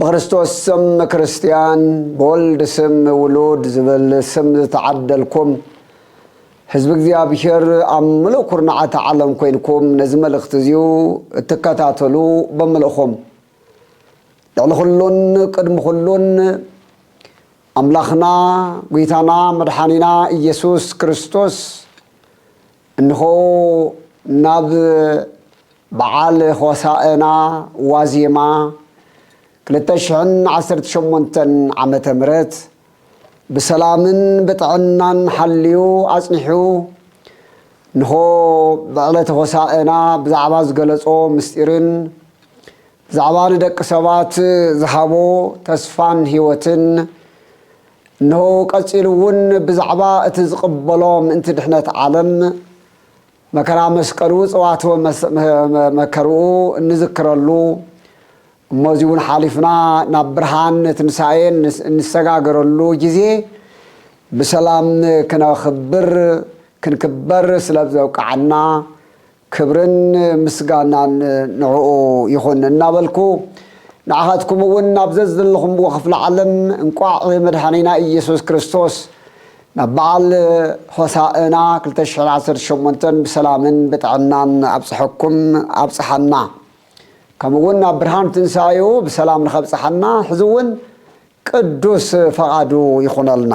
ብክርስቶስ ስም ክርስትያን ብወልድ ስም ውሉድ ዝብል ስም ዝተዓደልኩም ህዝቢ እግዚኣብሔር ኣብ ምሉእ ኩርናዓት ዓለም ኮይንኩም ነዚ መልእኽቲ እዚዩ እትከታተሉ ብምልእኹም ልዕሊ ኩሉን ቅድሚ ኩሉን ኣምላኽና ጒይታና መድሓኒና ኢየሱስ ክርስቶስ እንሆ ናብ በዓል ሆሳእና ዋዜማ ክልተ ሽሕን ዓሰርተ ሸሞንተን ዓመተ ምህረት ብሰላምን ብጥዕናን ሓልዩ ኣጽኒሑ እንሆ ብዕለተ ሆሳእና ብዛዕባ ዝገለጾ ምስጢርን ብዛዕባ ንደቂ ሰባት ዝሃቦ ተስፋን ሕይወትን እነሆ ቀጺሉ እውን ብዛዕባ እቲ ዝቕበሎ ምእንቲ ድሕነት ዓለም መከራ መስቀሉ ጸዋትወ መከርኡ እንዝክረሉ እሞ እዚ እውን ሓሊፍና ናብ ብርሃን ትንሳኤ እንሰጋገረሉ ጊዜ ብሰላም ክነኽብር ክንክበር ስለ ዘብቅዓና ክብርን ምስጋናን ንዕኡ ይኹን እናበልኩ ንዓኻትኩም እውን ናብ ዘዘለኹምዎ ክፍለ ዓለም እንቋዕ መድሓኒና ኢየሱስ ክርስቶስ ናብ በዓል ሆሳእና ክልተ ሽሕን ዓሰርተ ሸሞንተን ብሰላምን ብጥዕናን ኣብጽሐኩም ኣብጽሓና ከምኡ እውን ናብ ብርሃን ትንሳኤኡ ብሰላም ንኸብጽሓና ሕዚ እውን ቅዱስ ፈቓዱ ይኹነልና።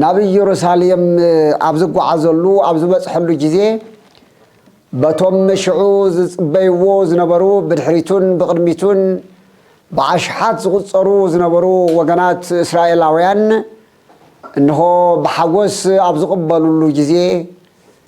ናብ ኢየሩሳሌም ኣብ ዝጓዓዘሉ ኣብ ዝበጽሐሉ ጊዜ በቶም ሽዑ ዝጽበይዎ ዝነበሩ ብድሕሪቱን ብቕድሚቱን ብኣሽሓት ዝቝጸሩ ዝነበሩ ወገናት እስራኤላውያን እንሆ ብሓጐስ ኣብ ዝቕበሉሉ ጊዜ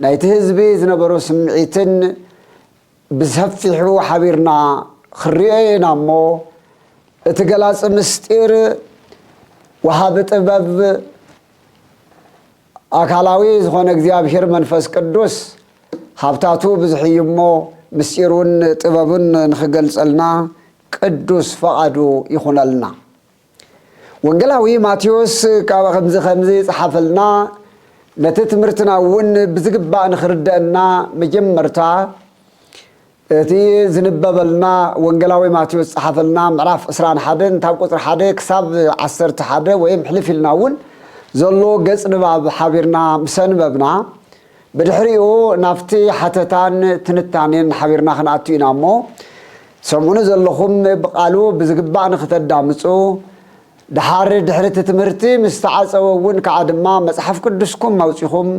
ናይቲ ህዝቢ ዝነበሮ ስምዒትን ብሰፊሑ ሓቢርና ክንሪኦ ኢና እሞ እቲ ገላጺ ምስጢር ወሃቢ ጥበብ ኣካላዊ ዝኾነ እግዚኣብሔር መንፈስ ቅዱስ ሃብታቱ ብዙሕ እዩ እሞ ምስጢሩን ጥበቡን ንኽገልጸልና ቅዱስ ፈቓዱ ይኹነልና። ወንጌላዊ ማቴዎስ ካብ ከምዚ ከምዚ ጸሓፈልና ነቲ ትምህርትና እውን ብዝግባእ ንኽርደአና መጀመርታ እቲ ዝንበበልና ወንጌላዊ ማቴዎስ ጸሓፈልና ምዕራፍ 21 ካብ ቁጽሪ 1 ክሳብ 11 ወይም ሕልፍ ኢልና እውን ዘሎ ገጽ ንባብ ሓቢርና ምስ ኣንበብና ብድሕሪኡ ናብቲ ሓተታን ትንታኔን ሓቢርና ክንኣቱ ኢና እሞ ትሰምዑኒ ዘለኹም ብቃሉ ብዝግባእ ንክተዳምጹ ድሓር ድሕሪ እቲ ትምህርቲ ምስ ተዓጸወ እውን ከኣ ድማ መጽሓፍ ቅዱስኩም ኣውጺኹም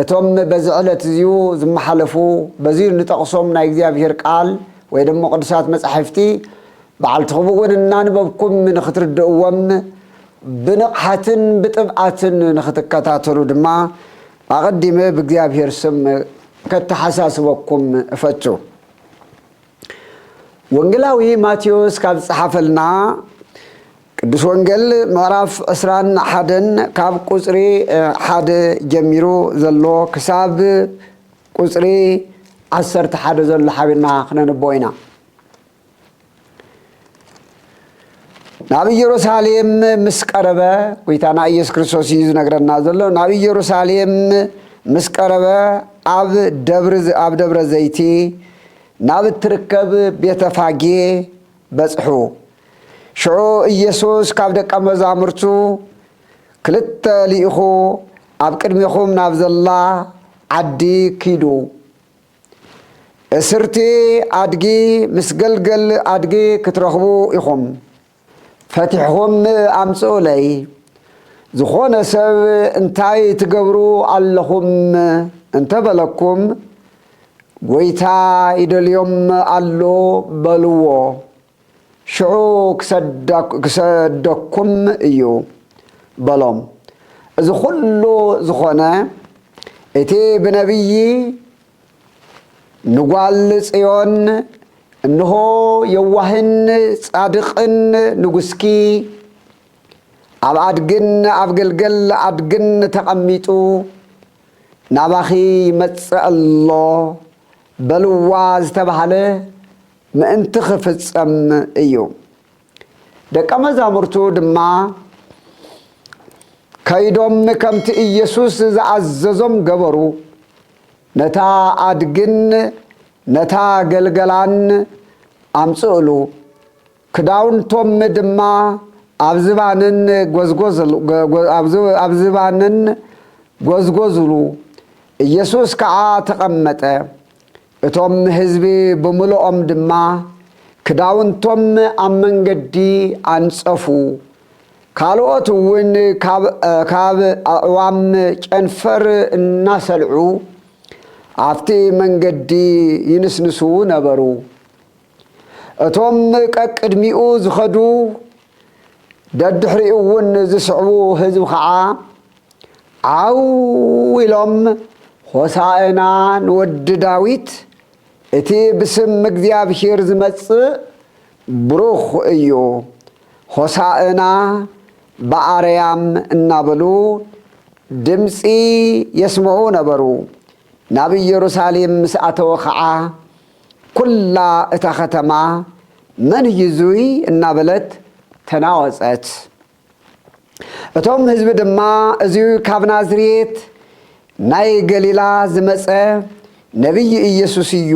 እቶም በዚ ዕለት እዚዩ ዝመሓለፉ በዚዩ እንጠቕሶም ናይ እግዚኣብሔር ቃል ወይ ደሞ ቅዱሳት መጻሕፍቲ በዓልትኹም እውን እናንበብኩም ንክትርድእዎም ብንቕሓትን ብጥብዓትን ንኽትከታተሉ ድማ ኣቐዲመ ብእግዚኣብሔር ስም ከተሓሳስበኩም እፈቱ። ወንጌላዊ ማቴዎስ ካብ ዝጸሓፈልና ቅዱስ ወንጌል ምዕራፍ ዕስራን ሓደን ካብ ቁጽሪ ሓደ ጀሚሩ ዘሎ ክሳብ ቁጽሪ ዓሰርተ ሓደ ዘሎ ሓቢርና ክነንብቦ ኢና። ናብ ኢየሩሳሌም ምስ ቀረበ ጎይታና ኢየሱስ ክርስቶስ እዩ ዝነግረና ዘሎ ናብ ኢየሩሳሌም ምስ ቀረበ ኣብ ደብሪ ኣብ ደብረ ዘይቲ ናብ እትርከብ ቤተ ፋጌ በጽሑ ሽዑ ኢየሱስ ካብ ደቀ መዛሙርቱ ክልተ ልኢኹ ኣብ ቅድሜኹም ናብ ዘላ ዓዲ ኪዱ እስርቲ ኣድጊ ምስ ገልገል ኣድጊ ክትረኽቡ ኢኹም ፈቲሕኹም ኣምጽኡለይ ዝኾነ ሰብ እንታይ ትገብሩ ኣለኹም እንተበለኩም ጎይታ ይደልዮም ኣሎ በልዎ። ሽዑ ክሰደኩም እዩ በሎም። እዚ ዅሉ ዝዀነ፣ እቲ ብነብዪ ንጓል ጽዮን፣ እንሆ፣ የዋህን ጻድቕን ንጉስኪ ኣብ ኣድግን ኣብ ገልገል ኣድግን ተቐሚጡ ናባኺ ይመጽእ ኣሎ በልዋ ዝተባህለ ምእንቲ ኺፍጸም እዩ። ደቀ መዛሙርቱ ድማ ከይዶም ከምቲ ኢየሱስ ዝኣዘዞም ገበሩ፣ ነታ ኣድግን ነታ ገልገላን ኣምጽእሉ፣ ክዳውንቶም ድማ ኣብ ዝባነን ጐዝጐዝሉ፣ ኢየሱስ ከዓ ተቐመጠ። እቶም ህዝቢ ብምሉኦም ድማ ክዳውንቶም ኣብ መንገዲ ኣንጸፉ፣ ካልኦት እውን ካብ ኣዕዋም ጨንፈር እናሰልዑ ኣብቲ መንገዲ ይንስንሱ ነበሩ። እቶም ቀቅድሚኡ ዝኸዱ ደድሕሪኡ እውን ዝስዕቡ ህዝቢ ኸዓ ዓው ኢሎም ሆሣእና ንወዲ ዳዊት እቲ ብስም እግዚኣብሔር ዝመጽእ ብሩኽ እዩ ሆሣእና በኣርያም እናበሉ ድምጺ የስምዑ ነበሩ። ናብ ኢየሩሳሌም ምስ ኣተወ ኸዓ ኩላ እታ ከተማ መን እዩ እዙይ እናበለት ተናወፀት። እቶም ህዝቢ ድማ እዚ ካብ ናዝሬት ናይ ገሊላ ዝመፀ ነቢይ ኢየሱስ እዩ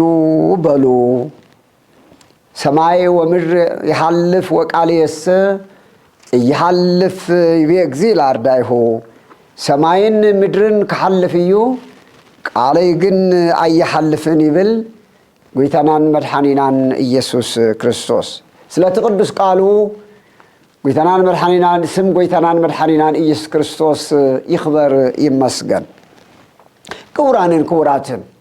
በሉ። ሰማይ ወምድር ይሓልፍ ወቃልየሰ እይሃልፍ ይቤ እግዚእ ኣርዳኢሁ፣ ሰማይን ምድርን ክሓልፍ እዩ ቃለይ ግን ኣይሓልፍን ይብል ጐይታናን መድሓኒናን እየሱስ ክርስቶስ። ስለቲ ቅዱስ ቃሉ ጐይታናን መድሓኒናን ስም ጐይታናን መድሓኒናን እየሱስ ክርስቶስ ይኽበር ይመስገን። ክቡራንን ክቡራትን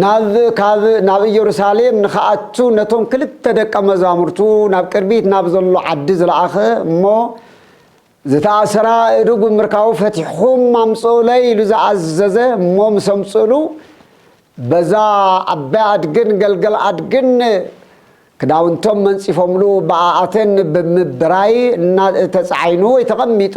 ናብ ካብ ናብ ኢየሩሳሌም ንኽኣቱ ነቶም ክልተ ደቀ መዛሙርቱ ናብ ቅድሚት ናብ ዘሎ ዓዲ ዝለኣኸ እሞ ዝተኣሰራ እዱ ብምርካቡ ፈቲሕኹም ኣምጽኡለይ ኢሉ ዝኣዘዘ እሞ ምስ ኣምጽእሉ በዛ ዓባይ ኣድግን ገልገል ኣድግን ክዳውንቶም መንጺፎምሉ ብኣኣተን ብምብራይ እና ተጻዒኑ ወይ ተቐሚጡ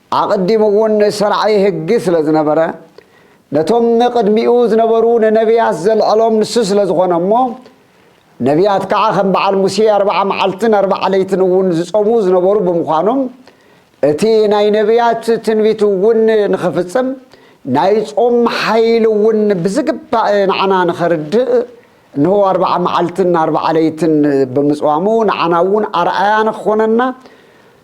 ኣቐዲሙ እውን ሰርዓይ ህግ ስለ ዝነበረ፣ ነቶም ቅድሚኡ ዝነበሩ ንነብያት ዘልዐሎም ንሱ ስለ ዝኾነ እሞ፣ ነብያት ከዓ ከም በዓል ሙሴ ኣርብዓ መዓልትን ኣርብዓ ለይትን እውን ዝጾሙ ዝነበሩ ብምዃኖም፣ እቲ ናይ ነብያት ትንቢት እውን ንኽፍጽም፣ ናይ ጾም ሓይሊ እውን ብዝግባእ ንዓና ንኸርድእ፣ እንሆ ኣርብዓ መዓልትን ኣርብዓ ለይትን ብምጽዋሙ ንዓና እውን ኣርኣያ ንክኾነና፣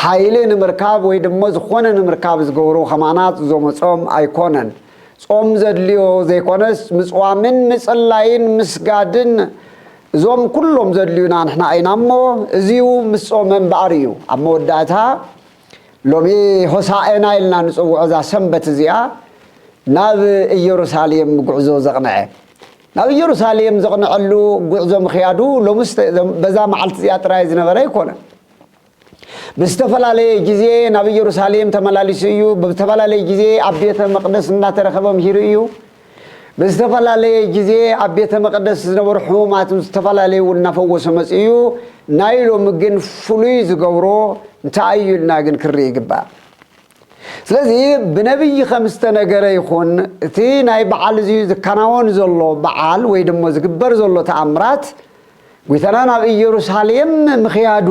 ሓይሊ ንምርካብ ወይ ድሞ ዝኾነ ንምርካብ ዝገብሩ ከማናት ዞመጾም ኣይኮነን ጾም ዘድልዮ ዘይኮነስ ምጽዋምን ምጽላይን ምስጋድን እዞም ኩሎም ዘድልዩና ንሕና ኢና እሞ እዚው ምስ ጾመ እምበኣር እዩ ኣብ መወዳእታ ሎሚ ሆሳኤና ኢልና ንጽውዖ እዛ ሰንበት እዚኣ ናብ ኢየሩሳሌም ጉዕዞ ዘቕንዐ ናብ ኢየሩሳሌም ዘቕንዐሉ ጉዕዞ ምክያዱ ሎምስ በዛ መዓልቲ እዚኣ ጥራይ ዝነበረ ኣይኮነን ብዝተፈላለየ ግዜ ናብ ኢየሩሳሌም ተመላሊሱ እዩ። ብዝተፈላለየ ግዜ ኣብ ቤተ መቕደስ እናተረኸበ ምሂሩ እዩ። ብዝተፈላለየ ግዜ ኣብ ቤተ መቕደስ ዝነበሩ ሕሙማት ዝተፈላለዩ እውን እናፈወሰ መፅ እዩ። ናይ ሎሚ ግን ፍሉይ ዝገብሮ እንታይ እዩ ኢልና ግን ክንርኢ ይግባእ። ስለዚ ብነብዪ ከም ዝተነገረ ይኹን እቲ ናይ በዓል እዚ ዝከናወን ዘሎ በዓል ወይ ደሞ ዝግበር ዘሎ ተኣምራት ጒይታና ናብ ኢየሩሳሌም ምኽያዱ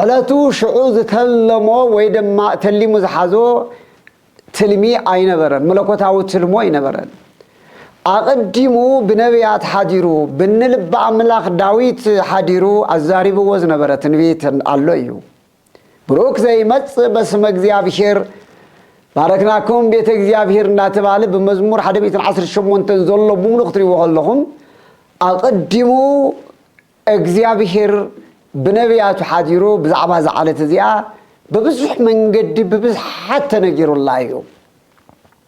ዕለቱ ሽዑ ዝተለሞ ወይ ደማ ተሊሙ ዝሓዞ ትልሚ ኣይነበረን መለኮታዊ ትልሞ ኣይነበረን ኣቐዲሙ ብነብያት ሓዲሩ ብንልቢ ኣምላኽ ዳዊት ሓዲሩ ኣዛሪብዎ ዝነበረ ትንቢት ኣሎ እዩ ብሩክ ዘይመጽእ በስመ እግዚኣብሔር ባረክናኩም ቤተ እግዚኣብሔር እናተባህለ ብመዝሙር 118 ዘሎ ብምሉ ክትሪዎ ከለኹም ኣቐዲሙ እግዚኣብሔር ብነቢያቱ ሓዲሩ ብዛዕባ እዛ ዓለት እዚኣ ብብዙሕ መንገዲ ብብዝሓት ተነጊሩላ እዩ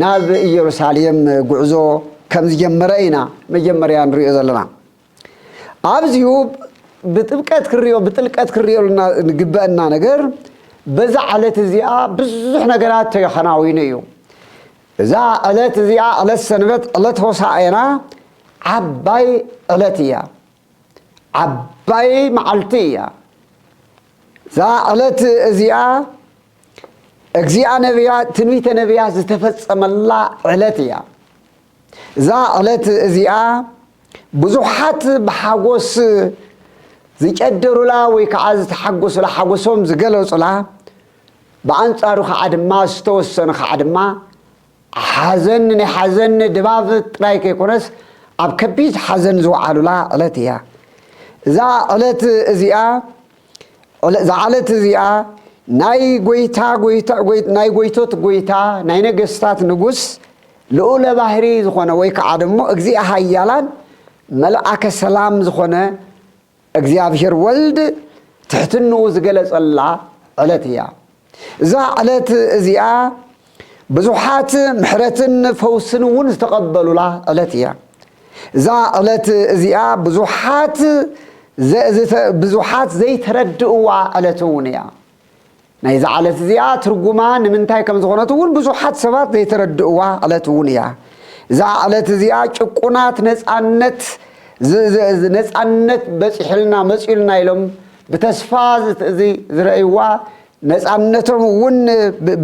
ናብ ኢየሩሳሌም ጉዕዞ ከም ዝጀመረ ኢና መጀመርያ ንሪኦ ዘለና። ኣብዚሁ ብጥብቀት ክንሪኦ ብጥልቀት ክንሪኦ ንግበአና ነገር በዛ ዕለት እዚኣ ብዙሕ ነገራት ተከናዊኑ እዩ። እዛ ዕለት እዚኣ ዕለት ሰንበት ዕለት ሆሳዕና ዓባይ ዕለት እያ። ዓባይ መዓልቲ እያ። እዛ ዕለት እዚኣ እግዚኣ ነብያት ትንቢተ ነብያት ዝተፈጸመላ ዕለት እያ። እዛ ዕለት እዚኣ ብዙሓት ብሓጎስ ዝጨደሩላ ወይ ከዓ ዝተሓጎሱላ ሓጎሶም ዝገለጹላ ብኣንጻሩ ከዓ ድማ ዝተወሰኑ ከዓ ድማ ሓዘን ናይ ሓዘን ድባብ ጥራይ ከይኮነስ ኣብ ከቢድ ሓዘን ዝወዓሉላ ዕለት ኢያ። እዛ ዕለት እዚኣ እዛ ዕለት እዚኣ ናይ ጎይታ ጎይታ ናይ ጎይቶት ጎይታ ናይ ነገስታት ንጉስ ልኡለ ባህሪ ዝኾነ ወይ ከዓ ደግሞ እግዚኣ ሃያላን መልኣከ ሰላም ዝኾነ እግዚኣብሔር ወልድ ትሕትንኡ ዝገለጸላ ዕለት እያ። እዛ ዕለት እዚኣ ብዙሓት ምሕረትን ፈውስን እውን ዝተቐበሉላ ዕለት እያ። እዛ ዕለት እዚኣ ብዙሓት ብዙሓት ዘይተረድእዋ ዕለት እውን እያ። ናይዛ ዕለት እዚኣ ትርጉማ ንምንታይ ከም ዝኾነት እውን ብዙሓት ሰባት ዘይተረድእዋ ዕለት እውን እያ። እዛ ዕለት እዚኣ ጭቁናት ነፃነት ነፃነት በፂሑልና መፅኡልና ኢሎም ብተስፋ ዝረእይዋ ነፃነቶም እውን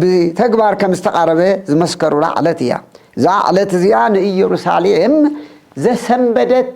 ብተግባር ከም ዝተቓረበ ዝመስከሩላ ዕለት እያ። እዛ ዕለት እዚኣ ንኢየሩሳሌም ዘሰንበደት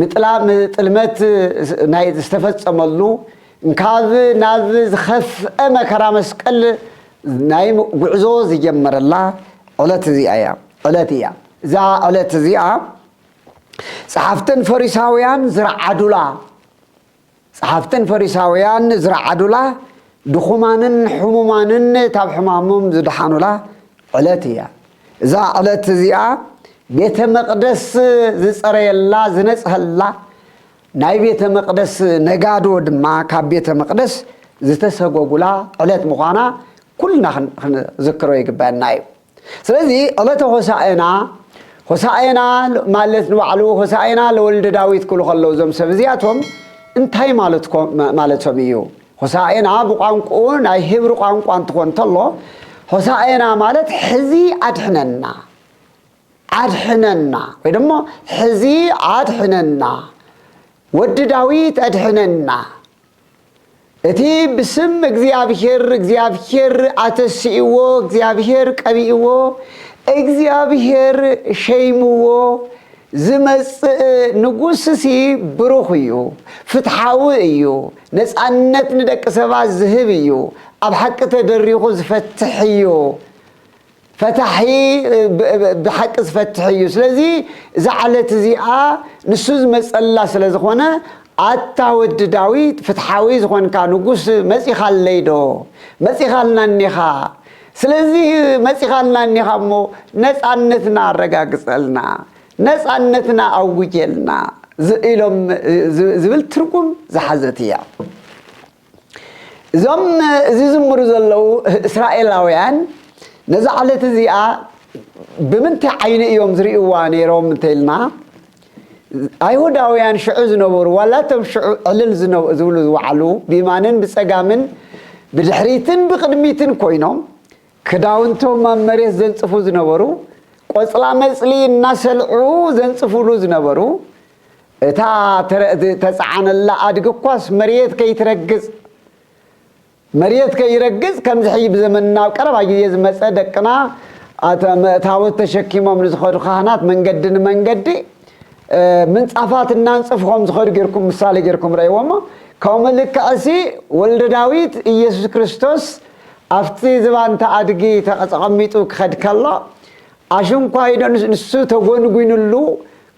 ምጥላም ጥልመት ናይ ዝተፈጸመሉ እንካብ ናብ ዝኸፍአ መከራ መስቀል ናይ ጉዕዞ ዝጀመረላ ዕለት እዚኣ እያ ዕለት እያ እዛ ዕለት እዚኣ ጸሓፍትን ፈሪሳውያን ዝረዓዱላ ጸሓፍትን ፈሪሳውያን ዝረዓዱላ፣ ድኹማንን ሕሙማንን ካብ ሕማሞም ዝደሓኑላ ዕለት እያ። እዛ ዕለት እዚኣ ቤተ መቕደስ ዝጸረየላ፣ ዝነጽሀላ፣ ናይ ቤተ መቕደስ ነጋዶ ድማ ካብ ቤተ መቕደስ ዝተሰጎጉላ ዕለት ምዃና ኩልና ክንዝክሮ ይግበኣና እዩ። ስለዚ ዕለተ ሆሳእና ሆሳእና ማለት ንባዕሉ ሆሳእና ለወልደ ዳዊት ክብሉ ከለዉ እዞም ሰብ እዚኣቶም እንታይ ማለቶም እዩ? ሆሳእና ብቋንቁኡ ናይ ሂብሪ ቋንቋ እንትኾን ተሎ ሆሳእና ማለት ሕዚ ኣድሕነና ኣድሕነና ወይ ደሞ ሕዚ ኣድሕነና ወዲ ዳዊት ኣድሕነና እቲ ብስም እግዚኣብሄር እግዚኣብሄር ኣተሲእዎ እግዚኣብሄር ቀቢእዎ እግዚኣብሄር ሸይምዎ ዝመጽእ ንጉስሲ ብሩኽ እዩ፣ ፍትሓዊ እዩ፣ ነጻነት ንደቂ ሰባት ዝህብ እዩ፣ ኣብ ሓቂ ተደሪኹ ዝፈትሕ እዩ። ፈታሒ ብሓቂ ዝፈትሕ እዩ ስለዚ እዛ ዓለት እዚኣ ንሱ ዝመፀላ ስለ ዝኾነ ኣታ ወዲ ዳዊት ፍትሓዊ ዝኾንካ ንጉስ መፂኻለይ ዶ መፂኻልና እኒኻ ስለዚ መፂኻልና እኒኻ እሞ ነፃነትና ኣረጋግፀልና ነፃነትና ኣውጀልና ኢሎም ዝብል ትርጉም ዝሓዘት እያ እዞም ዚዝምሩ ዘለዉ እስራኤላውያን ነዛ ዕለት እዚኣ ብምንታይ ዓይኒ እዮም ዝርእይዋ ነይሮም እንተኢልና ኣይሁዳውያን ሽዑ ዝነበሩ ዋላ እቶም ሽዑ ዕልል ዝብሉ ዝወዓሉ ብየማንን ብጸጋምን ብድሕሪትን ብቕድሚትን ኮይኖም ክዳውንቶም ኣብ መሬት ዘንጽፉ ዝነበሩ ቆጽላ መጽሊ እናሰልዑ ዘንጽፉሉ ዝነበሩ እታ ተጻዓነላ ኣድጊ እኳስ መሬት ከይትረግጽ መሬት ከይረግጽ ከምዚ ሕጂ ብዘመንና ኣብ ቀረባ ግዜ ዝመጸ ደቅና ታቦት ተሸኪሞም ንዝኸዱ ካህናት መንገዲ ንመንገዲ ምንጻፋት እናንጽፉ ከም ዝኸዱ ጌርኩም ምሳሌ ጌርኩም ረእይዎ እሞ ከምኡ ልክዕሲ ወልደ ዳዊት ኢየሱስ ክርስቶስ ኣብቲ ዝባንታ ኣድጊ ተቐጸቐሚጡ ክኸድ ከሎ ኣሽንኳይዶ ንሱ ተጎንጒንሉ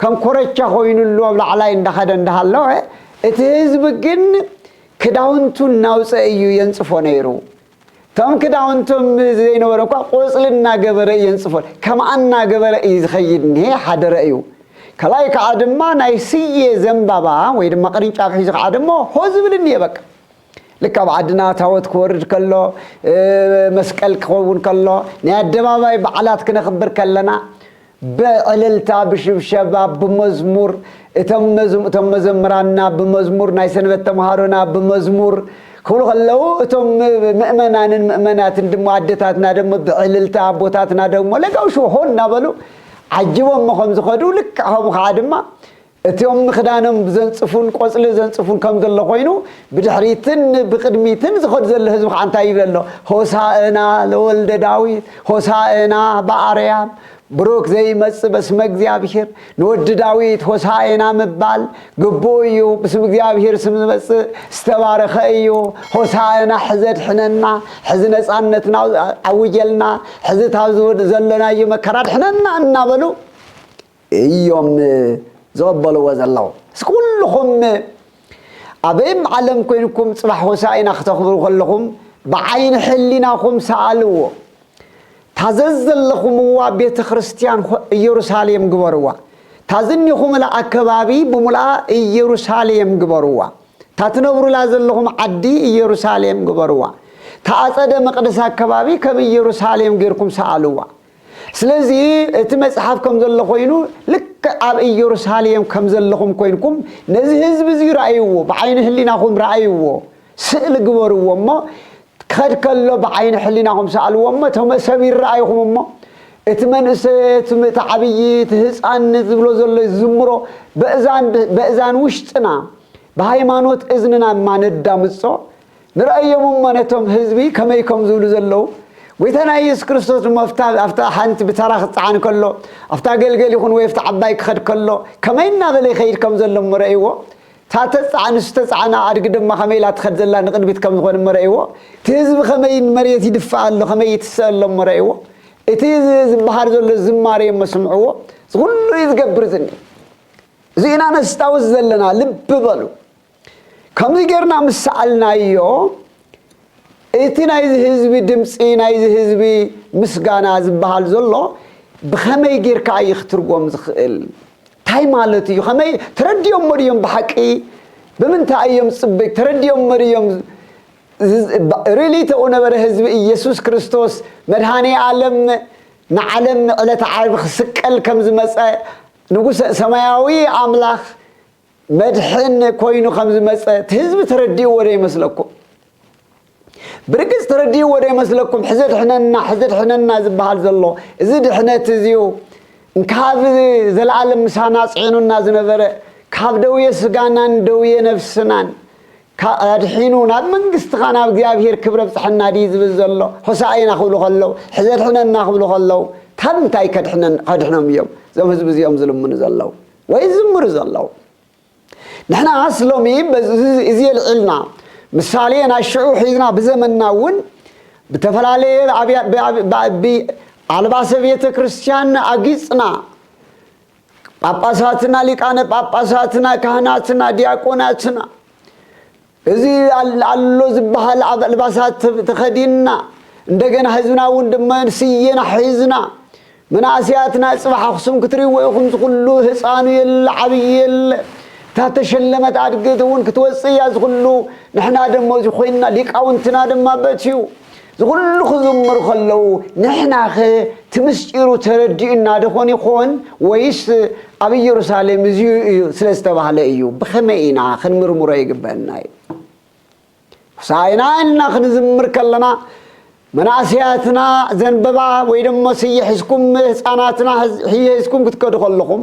ከም ኮረቻ ኮይንሉ ኣብ ላዕላይ እንዳኸደ እንዳሃለወ እቲ ህዝቢ ግን ክዳውንቱ እናውፀ እዩ የንፅፎ ነይሩ። እቶም ክዳውንቶም ዘይነበረ እኳ ቆፅሊ እናገበረ እዩ የንፅፎ ከምኣ እናገበረ እዩ ዝኸይድ እኒሀ ሓደረ እዩ። ካልኣይ ከዓ ድማ ናይ ስየ ዘንባባ ወይ ድማ ቅርንጫፍ ሒዙ ከዓ ደሞ ሆ ዝብል እኒሀ በቃ። ልክ ኣብ ዓድና ታወት ክወርድ ከሎ መስቀል ክኸውን ከሎ ናይ ኣደባባይ በዓላት ክነኽብር ከለና ብዕልልታ ብሽብሸባ ብመዝሙር እቶም እቶም መዘምራንና ብመዝሙር ናይ ሰንበት ተምሃሮና ብመዝሙር ክብሉ ከለዉ እቶም ምእመናንን ምእመናትን ድሞ ኣደታትና ደሞ ብዕልልታ ኣቦታትና ደግሞ ለጋውሽዎ ሆን እናበሉ ዓጅቦሞ ከም ዝኸዱ ልክዕ ከምኡ ከዓ ድማ እቶም ንክዳኖም ዘንጽፉን ቆጽሊ ዘንጽፉን ከም ዘሎ ኮይኑ ብድሕሪትን ብቅድሚትን ዝኸዱ ዘሎ ህዝቢ ከዓ እንታይ ይብል ኣሎ ሆሳእና ለወልደ ዳዊት ሆሳእና በኣርያም ብሩክ ዘይመጽእ በስመ እግዚኣብሔር ንወዲ ዳዊት ሆሳእና ምባል ግቡእ እዩ ብስም እግዚኣብሔር ስም ዝመጽእ ዝተባረኸ እዩ ሆሳእና ሕዘ ድሕነና ሕዚ ነፃነትና ኣውጀልና ሕዚ ታብ ዘሎናዮ መከራ ድሕነና እናበሉ እዮም ዝቕበልዎ ዘለዉ። እስኪ ኩሉኹም ኣበይም ዓለም ኮይንኩም ጽባሕ ሆሳኢና ክተኽብሩ ከለኹም ብዓይኒ ሕሊናኹም ሰኣልዎ። እታ ዘዘለኹምዋ ቤተክርስትያን ኢየሩሳሌም ግበርዋ። እታ ዝኒኹምላ ኣከባቢ ብሙሉኣ ኢየሩሳሌም ግበርዋ። እታ ትነብሩላ ዘለኹም ዓዲ ኢየሩሳሌም ግበርዋ። እታ ኣጸደ መቕደስ ኣከባቢ ከም ኢየሩሳሌም ጌርኩም ሰኣልዋ። ስለዚ እቲ መጽሓፍ ከም ዘሎ ኮይኑ ልክዕ ኣብ እየሩሳሌም ከም ዘለኹም ኮይንኩም ነዚ ህዝቢ እዚ ራእይዎ ብዓይኒ ህሊናኹም ራእይዎ ስእሊ ግበርዎ እሞ ክኸድ ከሎ ብዓይኒ ሕሊናኹም ሰኣልዎ እሞ እቶም ሰብ ይረኣይኹም እሞ እቲ መንእሰ እቲ ዓብዪ እቲ ህፃን ዝብሎ ዘሎ ዝዝምሮ በእዛን በእዛን ውሽጥና ብሃይማኖት እዝንና እማ ነዳምፆ ንርኣዮም እሞ ነቶም ህዝቢ ከመይ ከም ዝብሉ ዘለዉ። ጐይታና ኢየሱስ ክርስቶስ ድማ ኣብታ ሓንቲ ብተራ ክጸዓን ከሎ፣ ኣብታ ገልገል ይኹን ወይ ኣብታ ዓባይ ክኸድ ከሎ ከመይ እናበለ ይኸይድ ከም ዘሎ እሞ ረኣይዎ። እታ ተጽዓን ንሱ ዝተጻዕና ኣድጊ ድማ ከመይ ኢላ ትኸድ ዘላ ንቕድሚት ከም ዝኾነ እሞ ረኣይዎ። እቲ ህዝቢ ከመይ ንመሬት ይድፋእ ኣሎ ከመይ ይትስእ ኣሎ እሞ ረኣይዎ። እቲ ዝበሃል ዘሎ ዝማሬ እሞ ስምዕዎ። እዚ ኹሉ እዩ ዝገብር ዝኒሀ። እዚ ኢና ነስታውስ ዘለና። ልቢ በሉ። ከምዚ ጌርና ምስ ሰኣልናዮ፣ እቲ ናይዚ ህዝቢ ድምጺ፣ ናይዚ ህዝቢ ምስጋና ዝበሃል ዘሎ ብኸመይ ጌርካ እዩ ክትርጎም ዝኽእል? እንታይ ማለት እዩ? ከመይ ተረዲኦሞ ድዮም ብሓቂ? ብምንታይ እዮም ጽብቅ ተረዲኦሞ ድዮም? ሪሊ ተኡ ነበረ ህዝቢ ኢየሱስ ክርስቶስ መድኃኔ ዓለም ንዓለም ዕለተ ዓርቢ ክስቀል ከም ዝመጸ ንጉሰ ሰማያዊ ኣምላኽ መድሕን ኮይኑ ከም ዝመጸ እቲ ህዝቢ ተረዲእዎ ዶ ይመስለኩም? ብርግጽ ተረዲእዎ ዶ ይመስለኩም? ሕዚ ኣድሕነና ሕዚ ኣድሕነና ዝበሃል ዘሎ እዚ ድሕነት እዚዩ እንካብ ዘለኣለም ምሳና ጽዒኑና ዝነበረ ካብ ደውየ ስጋናን ደውየ ነፍስናን ኣድሒኑ ናብ መንግስትኻ ናብ እግዚኣብሄር ክብሪ ኣብጽሐና ድዩ ዝብል ዘሎ? ሆሳእና ክብሉ ከለው ሕዚ ኣድሕነና ክብሉ ከለው ካብ እንታይ ከድሕኖም እዮም እዞም ህዝቢ እዚኦም ዝልምኑ ዘለው? ወይ ዝዝምሩ ዘለዉ ንሕናስ ሎሚ እዚ የልዒልና ምሳሌ ናይ ሽዑ ሒዝና ብዘመንና እውን ብተፈላለየ ብኣልባሰ ቤተ ክርስቲያን ኣጊጽና ጳጳሳትና ሊቃነ ጳጳሳትና ካህናትና ዲያቆናትና እዚ ኣሎ ዝበሃል ኣልባሳት ተኸዲንና እንደገና ህዝብና እውን ድማ ስየና ሒዝና መናእሰያትና ፅባሕ ኣኽሱም ክትሪእዎ ኢኹም ዝኹሉ ህፃኑ የለ ዓብዪ የለ እታ ተሸለመት ኣድግት እውን ክትወፅእ እያ ዝኹሉ ንሕና ደሞ እዚ ኮይንና ሊቃውንትና ድማ በትዩ እዚ ኹሉ ክዝምሩ ከለዉ ንሕናኸ እቲ ምስጢሩ ተረዲኡና ደኾን ይኾን ወይስ ኣብ ኢየሩሳሌም እዚዩ እዩ ስለ ዝተባህለ እዩ ብኸመይ ኢና ክንምርምሮ ይግበአና እዩ ሆሳዕና ኢልና ክንዝምር ከለና መናእሰያትና ዘንበባ ወይ ደሞ ስየ ሕዝኩም ህፃናትና ሕየ ሕዝኩም ክትከዱ ከለኹም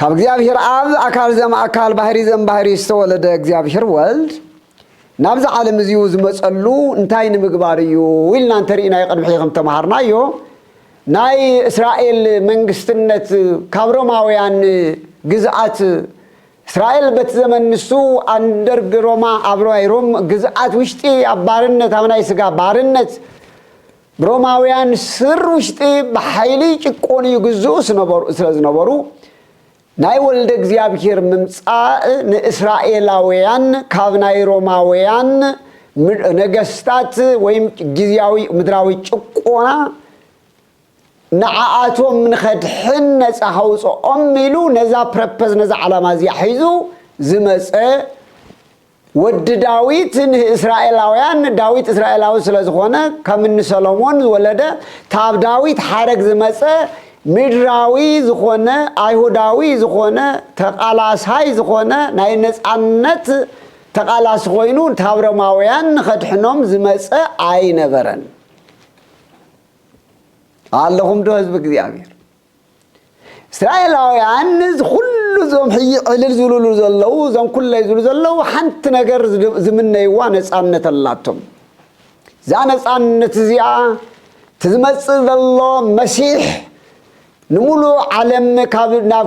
ካብ እግዚኣብሔር ኣብ ኣካል ዘም ኣካል ባህሪ ዘም ባህሪ ዝተወለደ እግዚኣብሔር ወልድ ናብዚ ዓለም እዚኡ ዝመፀሉ እንታይ ንምግባር እዩ ኢልና እንተርኢናዮ ቅድሚ ሕዚ ከም ተምሃርናዮ ናይ እስራኤል መንግስትነት ካብ ሮማውያን ግዝኣት እስራኤል በቲ ዘመን ንሱ ኣንደርግ ሮማ ኣብ ናይ ሮም ግዝኣት ውሽጢ ኣብ ባርነት ኣብ ናይ ስጋ ባርነት ሮማውያን ስር ውሽጢ ብሓይሊ ይጭቆኑ ይግዝኡ ስለ ዝነበሩ ናይ ወልደ እግዚኣብሔር ምምጻእ ንእስራኤላውያን ካብ ናይ ሮማውያን ነገስታት ወይም ግዝያዊ ምድራዊ ጭቆና ንዓኣቶም ንኸድሕን ነፃ ከውፅኦም ኢሉ ነዛ ፕረፐዝ ነዛ ዓላማ እዚኣ ሒዙ ዝመፀ ወዲ ዳዊት ንእስራኤላውያን ንዳዊት እስራኤላዊ ስለ ዝኾነ ከም እኒ ሰሎሞን ዝወለደ ታብ ዳዊት ሓረግ ዝመፀ ምድራዊ ዝኾነ ኣይሁዳዊ ዝኾነ ተቓላሳይ ዝኾነ ናይ ነፃነት ተቓላሲ ኮይኑ ታብ ሮማውያን ንኸድሕኖም ዝመፀ ኣይነበረን ኣለኹም ዶ ህዝቢ እግዚኣብሔር እስራኤላውያን እዚ ኩሉ እዞም ሕጂ ዕልል ዝብልሉ ዘለዉ እዞም ኩለይ ዝብሉ ዘለዉ ሓንቲ ነገር ዝምነይዋ ነፃነት ኣላቶም እዛ ነፃነት እዚኣ እቲ ዝመፅእ ዘሎ መሲሕ ንምሉእ ዓለም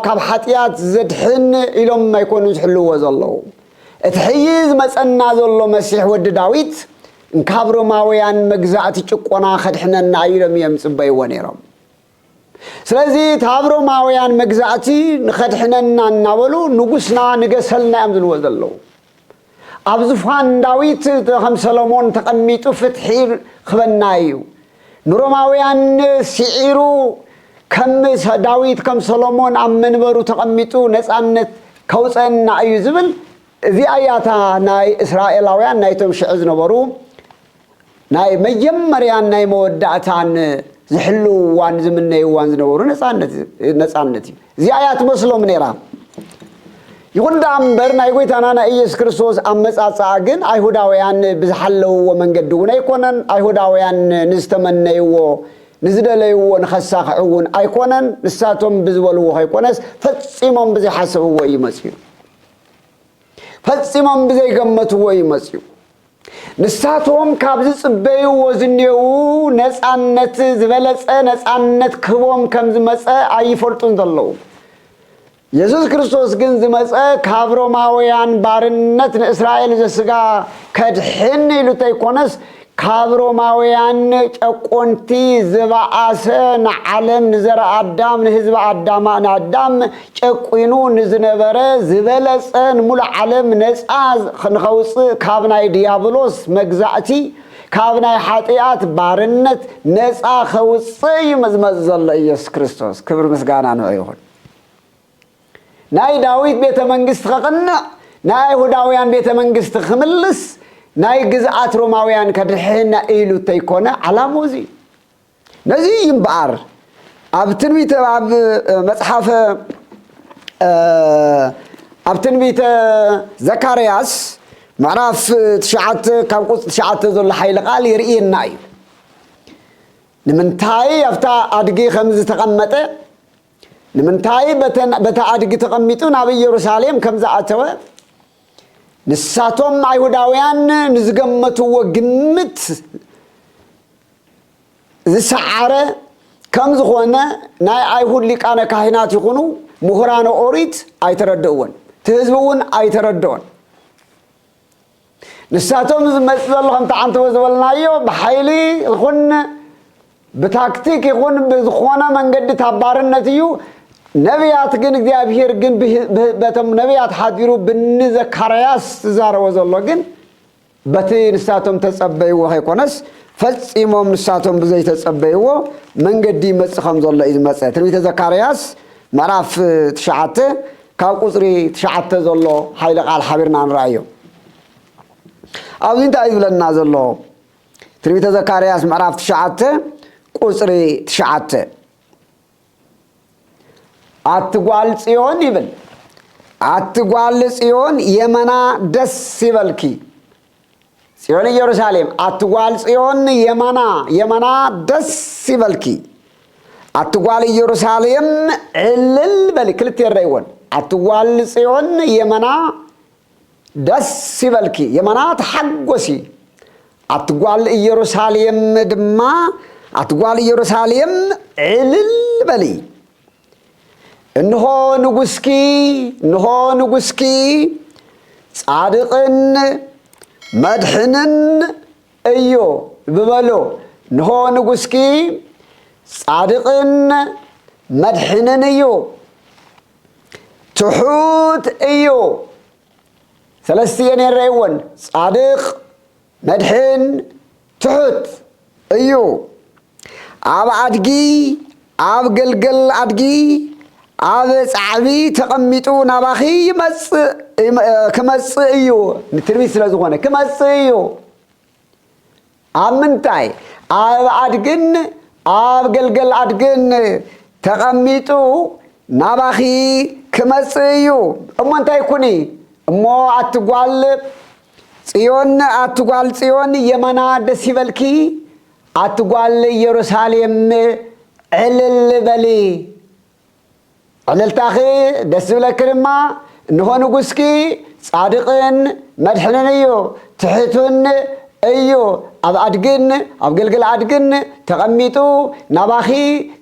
ካብ ሓጢኣት ዘድሕን ኢሎም ኣይኮኑ ዝሕልዎ ዘለዉ እቲ ሕጂ ዝመፀና ዘሎ መሲሕ ወዲ ዳዊት እንካብ ሮማውያን መግዛእቲ ጭቆና ከድሕነና ኢሎም እዮም ዝፅበይዎ ነይሮም ስለዚ ታብ ሮማውያን መግዛእቲ ንኸድሕነና እናበሉ ንጉስና ንገሰልና እዮም ዝልዎ ዘለዉ ኣብ ዝፋን ዳዊት ከም ሰሎሞን ተቐሚጡ ፍትሒ ኽበና እዩ ንሮማውያን ሲዒሩ ከም ዳዊት ከም ሰሎሞን ኣብ መንበሩ ተቐሚጡ ነፃነት ከውፀና እዩ ዝብል እዚኣ እያ እታ ናይ እስራኤላውያን ናይቶም ሽዕ ዝነበሩ ናይ መጀመርያን ናይ መወዳእታን ዝሕልውዋን ዝምነይዋን ዝነበሩ ነፃነት እዩ እዚኣ እያ ትመስሎም ነይራ ይኹን ደኣ እምበር ናይ ጎይታና ናይ ኢየሱስ ክርስቶስ ኣመጻጽኣ ግን ኣይሁዳውያን ብዝሓለውዎ መንገዲ እውን ኣይኮነን ኣይሁዳውያን ንዝተመነይዎ ንዝደለይዎ ንኸሳኽዑ እውን ኣይኮነን ንሳቶም ብዝበልዎ ከይኮነስ ፈጺሞም ብዘይሓሰብዎ እዩ መፅዩ ፈጺሞም ብዘይገመትዎ እዩ መፅዩ ንሳቶም ካብ ዝጽበዩዎ ዝኔዉ ነጻነት ዝበለጸ ነጻነት ክህቦም ከም ዝመጸ ኣይፈልጡን ዘለዉ። የሱስ ክርስቶስ ግን ዝመጸ ካብ ሮማውያን ባርነት ንእስራኤል ዘስጋ ከድሕን ኢሉ ተይኮነስ ካብ ሮማውያን ጨቆንቲ ዝባኣሰ ንዓለም ንዘርኣ ኣዳም ንህዝቢ ኣዳም ንኣዳም ጨቊኑ ንዝነበረ ዝበለጸ ንሙሉእ ዓለም ነጻ ንኸውጽእ ካብ ናይ ድያብሎስ መግዛእቲ ካብ ናይ ሓጥያት ባርነት ነጻ ከውጽእ እዩ ዝመጽእ ዘሎ ኢየሱስ ክርስቶስ ክብሪ ምስጋና ንዑ ይኹን ናይ ዳዊት ቤተ መንግስቲ ከቕንዕ ናይ ኣይሁዳውያን ቤተ መንግስቲ ክምልስ ናይ ግዝኣት ሮማውያን ከድሕህና ኢሉ እተይኮነ ዓላሙ እዚ እዩ ነዚ እዩ እምበኣር ኣብ ትንቢተ ኣብ መጽሓፈ ኣብ ትንቢተ ዘካርያስ ምዕራፍ ትሽዓተ ካብ ቁጽ ትሽዓተ ዘሎ ሓይሊ ቃል የርእየና እዩ ንምንታይ ኣብታ ኣድጊ ከም ዝተቐመጠ ንምንታይ በታ ኣድጊ ተቐሚጡ ናብ ኢየሩሳሌም ከም ዝኣተወ ንሳቶም ኣይሁዳውያን ንዝገመትዎ ግምት ዝሰዓረ ከም ዝኾነ ናይ ኣይሁድ ሊቃነ ካህናት ይኹኑ ምሁራነ ኦሪት ኣይተረድእዎን፣ እቲ ህዝቢ እውን ኣይተረድኦን። ንሳቶም እዚ መጽእ ዘሎ ከምቲ ዓንተቦ ዝበልናዮ ብሓይሊ ይኹን ብታክቲክ ይኹን ብዝኾነ መንገዲ ታባርነት እዩ ነቢያት ግን እግዚኣብሔር ግን በቶም ነቢያት ሓዲሩ ብኒ ዘካርያስ ዝዛረቦ ዘሎ ግን በቲ ንሳቶም እተጸበይዎ ኸይኰነስ፣ ፈጺሞም ንሳቶም ብዘይተጸበይዎ መንገዲ ይመጽእ ከም ዘሎ እዩ ዝመጸ። ትንቢተ ዘካርያስ ምዕራፍ ትሽዓተ ካብ ቍጽሪ ትሽዓተ ዘሎ ሓይሊ ቓል ሓቢርና ንርኣዮ። ኣብዚ እንታይ እዩ ዝብለና ዘሎ? ትንቢተ ዘካርያስ ምዕራፍ ትሽዓተ ቍጽሪ ትሽዓተ። ኣቲ ጓል ጽዮን ይብል። ኣቲ ጓል ጽዮን የመና ደስ ይበልኪ። ጽዮን ኢየሩሳሌም ኣቲ ጓል ጽዮን የማና የማና ደስ ይበልኪ። ኣቲ ጓል ኢየሩሳሌም ዕልል በሊ ክልተ የረይዎን ኣቲ ጓል ጽዮን የመና ደስ ይበልኪ የማና ተሓጎሲ ኣቲ ጓል ኢየሩሳሌም ድማ ኣቲ ጓል ኢየሩሳሌም ዕልል በሊ እንሆ ንጉስኪ እንሆ ንጉስኪ ጻድቕን መድሕንን እዮ ብበሎ እንሆ ንጉስኪ ጻድቕን መድሕንን እዩ ትሑት እዩ ሰለስትየ ነረይወን ጻድቅ መድሕን ትሑት እዩ ኣብ ኣድጊ ኣብ ገልገል ኣድጊ ኣብ ጻዕቢ ተቐሚጡ ናባኺ ይመጽእ ክመጽእ እዩ ንትርቢት ስለ ዝኾነ ክመጽእ እዩ ኣብ ምንታይ ኣብ ኣድግን ኣብ ገልገል ኣድግን ተቐሚጡ ናባኺ ክመጽእ እዩ እሞ እንታይ ኩኒ እሞ ኣትጓል ጽዮን ኣትጓል ጽዮን የማና ደስ ይበልኪ ኣትጓል ኢየሩሳሌም ዕልል በሊ ዕልልታኺ ደስ ዝብለኪ ድማ እንሆ ንጉስኪ ጻድቕን መድሕንን እዩ ትሕቱን እዩ ኣብ ኣድግን ኣብ ግልግል ኣድግን ተቐሚጡ ናባኺ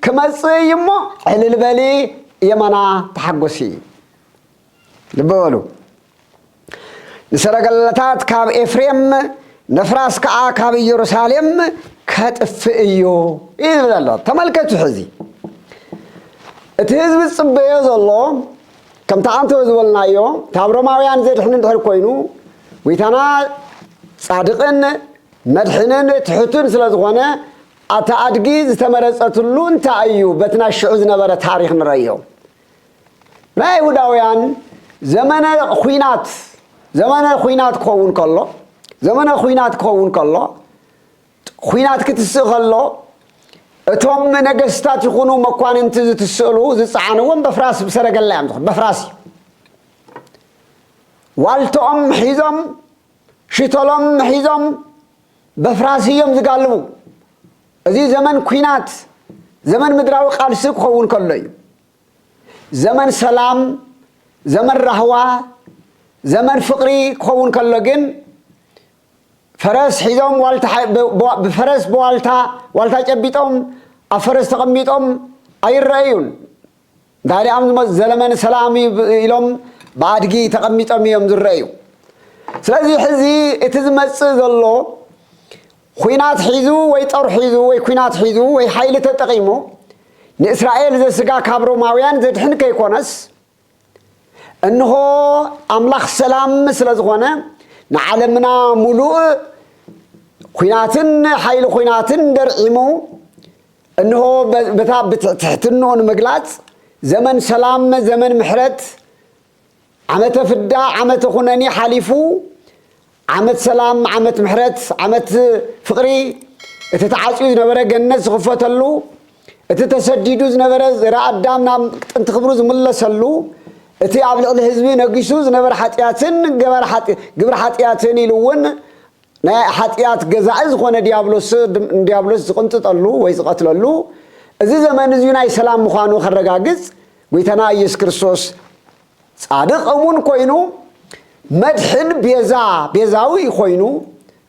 ክመጽእ እዩ እሞ ዕልል በሊ የማና ተሓጎሲ። ልቢ በሉ ንሰረገላታት ካብ ኤፍሬም ነፍራስ ከዓ ካብ ኢየሩሳሌም ከጥፍእ እዩ ይብል ኣሎ ተመልከቱ ሕዚ እቲ ህዝቢ ዝፅበዮ ዘሎ ከምቲ ኣንተወ ዝበልናዮ ካብ ሮማውያን ዘድሕን እንድሕር ኮይኑ ጎይታና ፃድቕን መድሕንን ትሕቱን ስለ ዝኾነ ኣቲ ኣድጊ ዝተመረፀትሉ እንታይ እዩ በቲ ናይ ሽዑ ዝነበረ ታሪክ ንረዮ ናይ ኣይሁዳውያን ዘመነ ኹናት ዘመነ ኹናት ክኸውን ከሎ ዘመነ ኹናት ክኸውን ከሎ ኹናት ክትስእ ከሎ እቶም ነገስታት ይኹኑ መኳንንቲ ዝትስእሉ ዝፀዓንዎም በፍራስ ብሰረገላ እዮም ዝኹን በፍራስ እዩ ዋልትኦም ሒዞም ሽቶሎም ሒዞም በፍራስ እዮም ዝጋልቡ። እዚ ዘመን ኲናት፣ ዘመን ምድራዊ ቃልሲ ክኸውን ከሎ እዩ። ዘመን ሰላም፣ ዘመን ራህዋ፣ ዘመን ፍቕሪ ክኸውን ከሎ ግን ፈረስ ሒዞም ብፈረስ ብዋልታ ዋልታ ጨቢጦም ኣብ ፈረስ ተቐሚጦም ኣይረኣዩን። እንተድኣ ዝመጽእ ዘለመኒ ሰላም እዩ ኢሎም ብኣድጊ ተቐሚጦም እዮም ዝረኣዩ። ስለዚ ሕዚ እቲ ዝመጽእ ዘሎ ኹናት ሒዙ ወይ ጦር ሒዙ ወይ ኩናት ሒዙ ወይ ሓይሊ ተጠቒሙ ንእስራኤል ዘስጋ ካብ ሮማውያን ዘድሕን ከይኮነስ እንሆ ኣምላኽ ሰላም ስለ ዝኾነ ንዓለምና ሙሉእ ኹናትን ሓይሊ ኹናትን ደርዒሙ እንሆ በታ ብትሕትንኦ ንምግላጽ ዘመን ሰላም ዘመን ምሕረት ዓመተ ፍዳ ዓመተ ኩነኔ ሓሊፉ ዓመት ሰላም ዓመት ምሕረት ዓመት ፍቕሪ እቲ ተዓጽዩ ዝነበረ ገነት ዝኽፈተሉ እቲ ተሰዲዱ ዝነበረ ዘረ ኣዳም ናብ ጥንቲ ክብሩ ዝምለሰሉ እቲ ኣብ ልዕሊ ህዝቢ ነጊሱ ዝነበረ ሓጢኣትን ግብሪ ሓጢኣትን ኢሉ እውን ናይ ሓጢኣት ገዛኢ ዝኾነ ዲያብሎስ ንዲያብሎስ ዝቕንጥጠሉ ወይ ዝቐትለሉ እዚ ዘመን እዚዩ ናይ ሰላም ምዃኑ ከረጋግጽ ጐይታና ኢየሱስ ክርስቶስ ጻድቕ እሙን ኮይኑ መድሕን ቤዛ ቤዛዊ ኮይኑ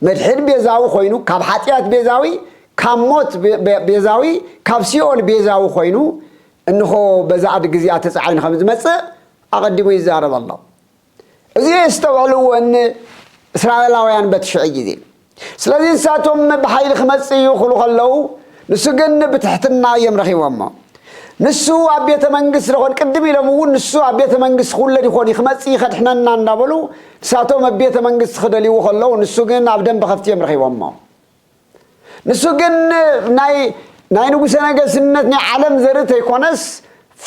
መድሕን ቤዛዊ ኮይኑ ካብ ሓጢኣት ቤዛዊ ካብ ሞት ቤዛዊ ካብ ሲኦል ቤዛዊ ኮይኑ እንኾ በዛ ኣድጊ እዚኣ ተጻዒኑ ከም ዝመጽእ ኣቐዲሙ ይዛረብ ኣሎ እዚ የስተውዕልዎ ን እስራኤላውያን በቲ ሽዑ ግዜ። ስለዚ ንሳቶም ብሓይሊ ክመጽእ እዩ ክብሉ ከለዉ ንሱ ግን ብትሕትና እዮም ረኺቦሞ። ንሱ ኣብ ቤተ መንግስት ደኾን ቅድም ኢሎም እውን ንሱ ኣብ ቤተ መንግስት ክውለድ ይኾን እዩ ክመጽእ እዩ ከድሕነና እንዳበሉ ንሳቶም ኣብ ቤተ መንግስት ክደልይዎ ከለዉ ንሱ ግን ኣብ ደንበ ከፍቲ እዮም ረኺቦሞ። ንሱ ግን ናይ ናይ ንጉሠ ነገስነት ናይ ዓለም ዘርኢ ተይኮነስ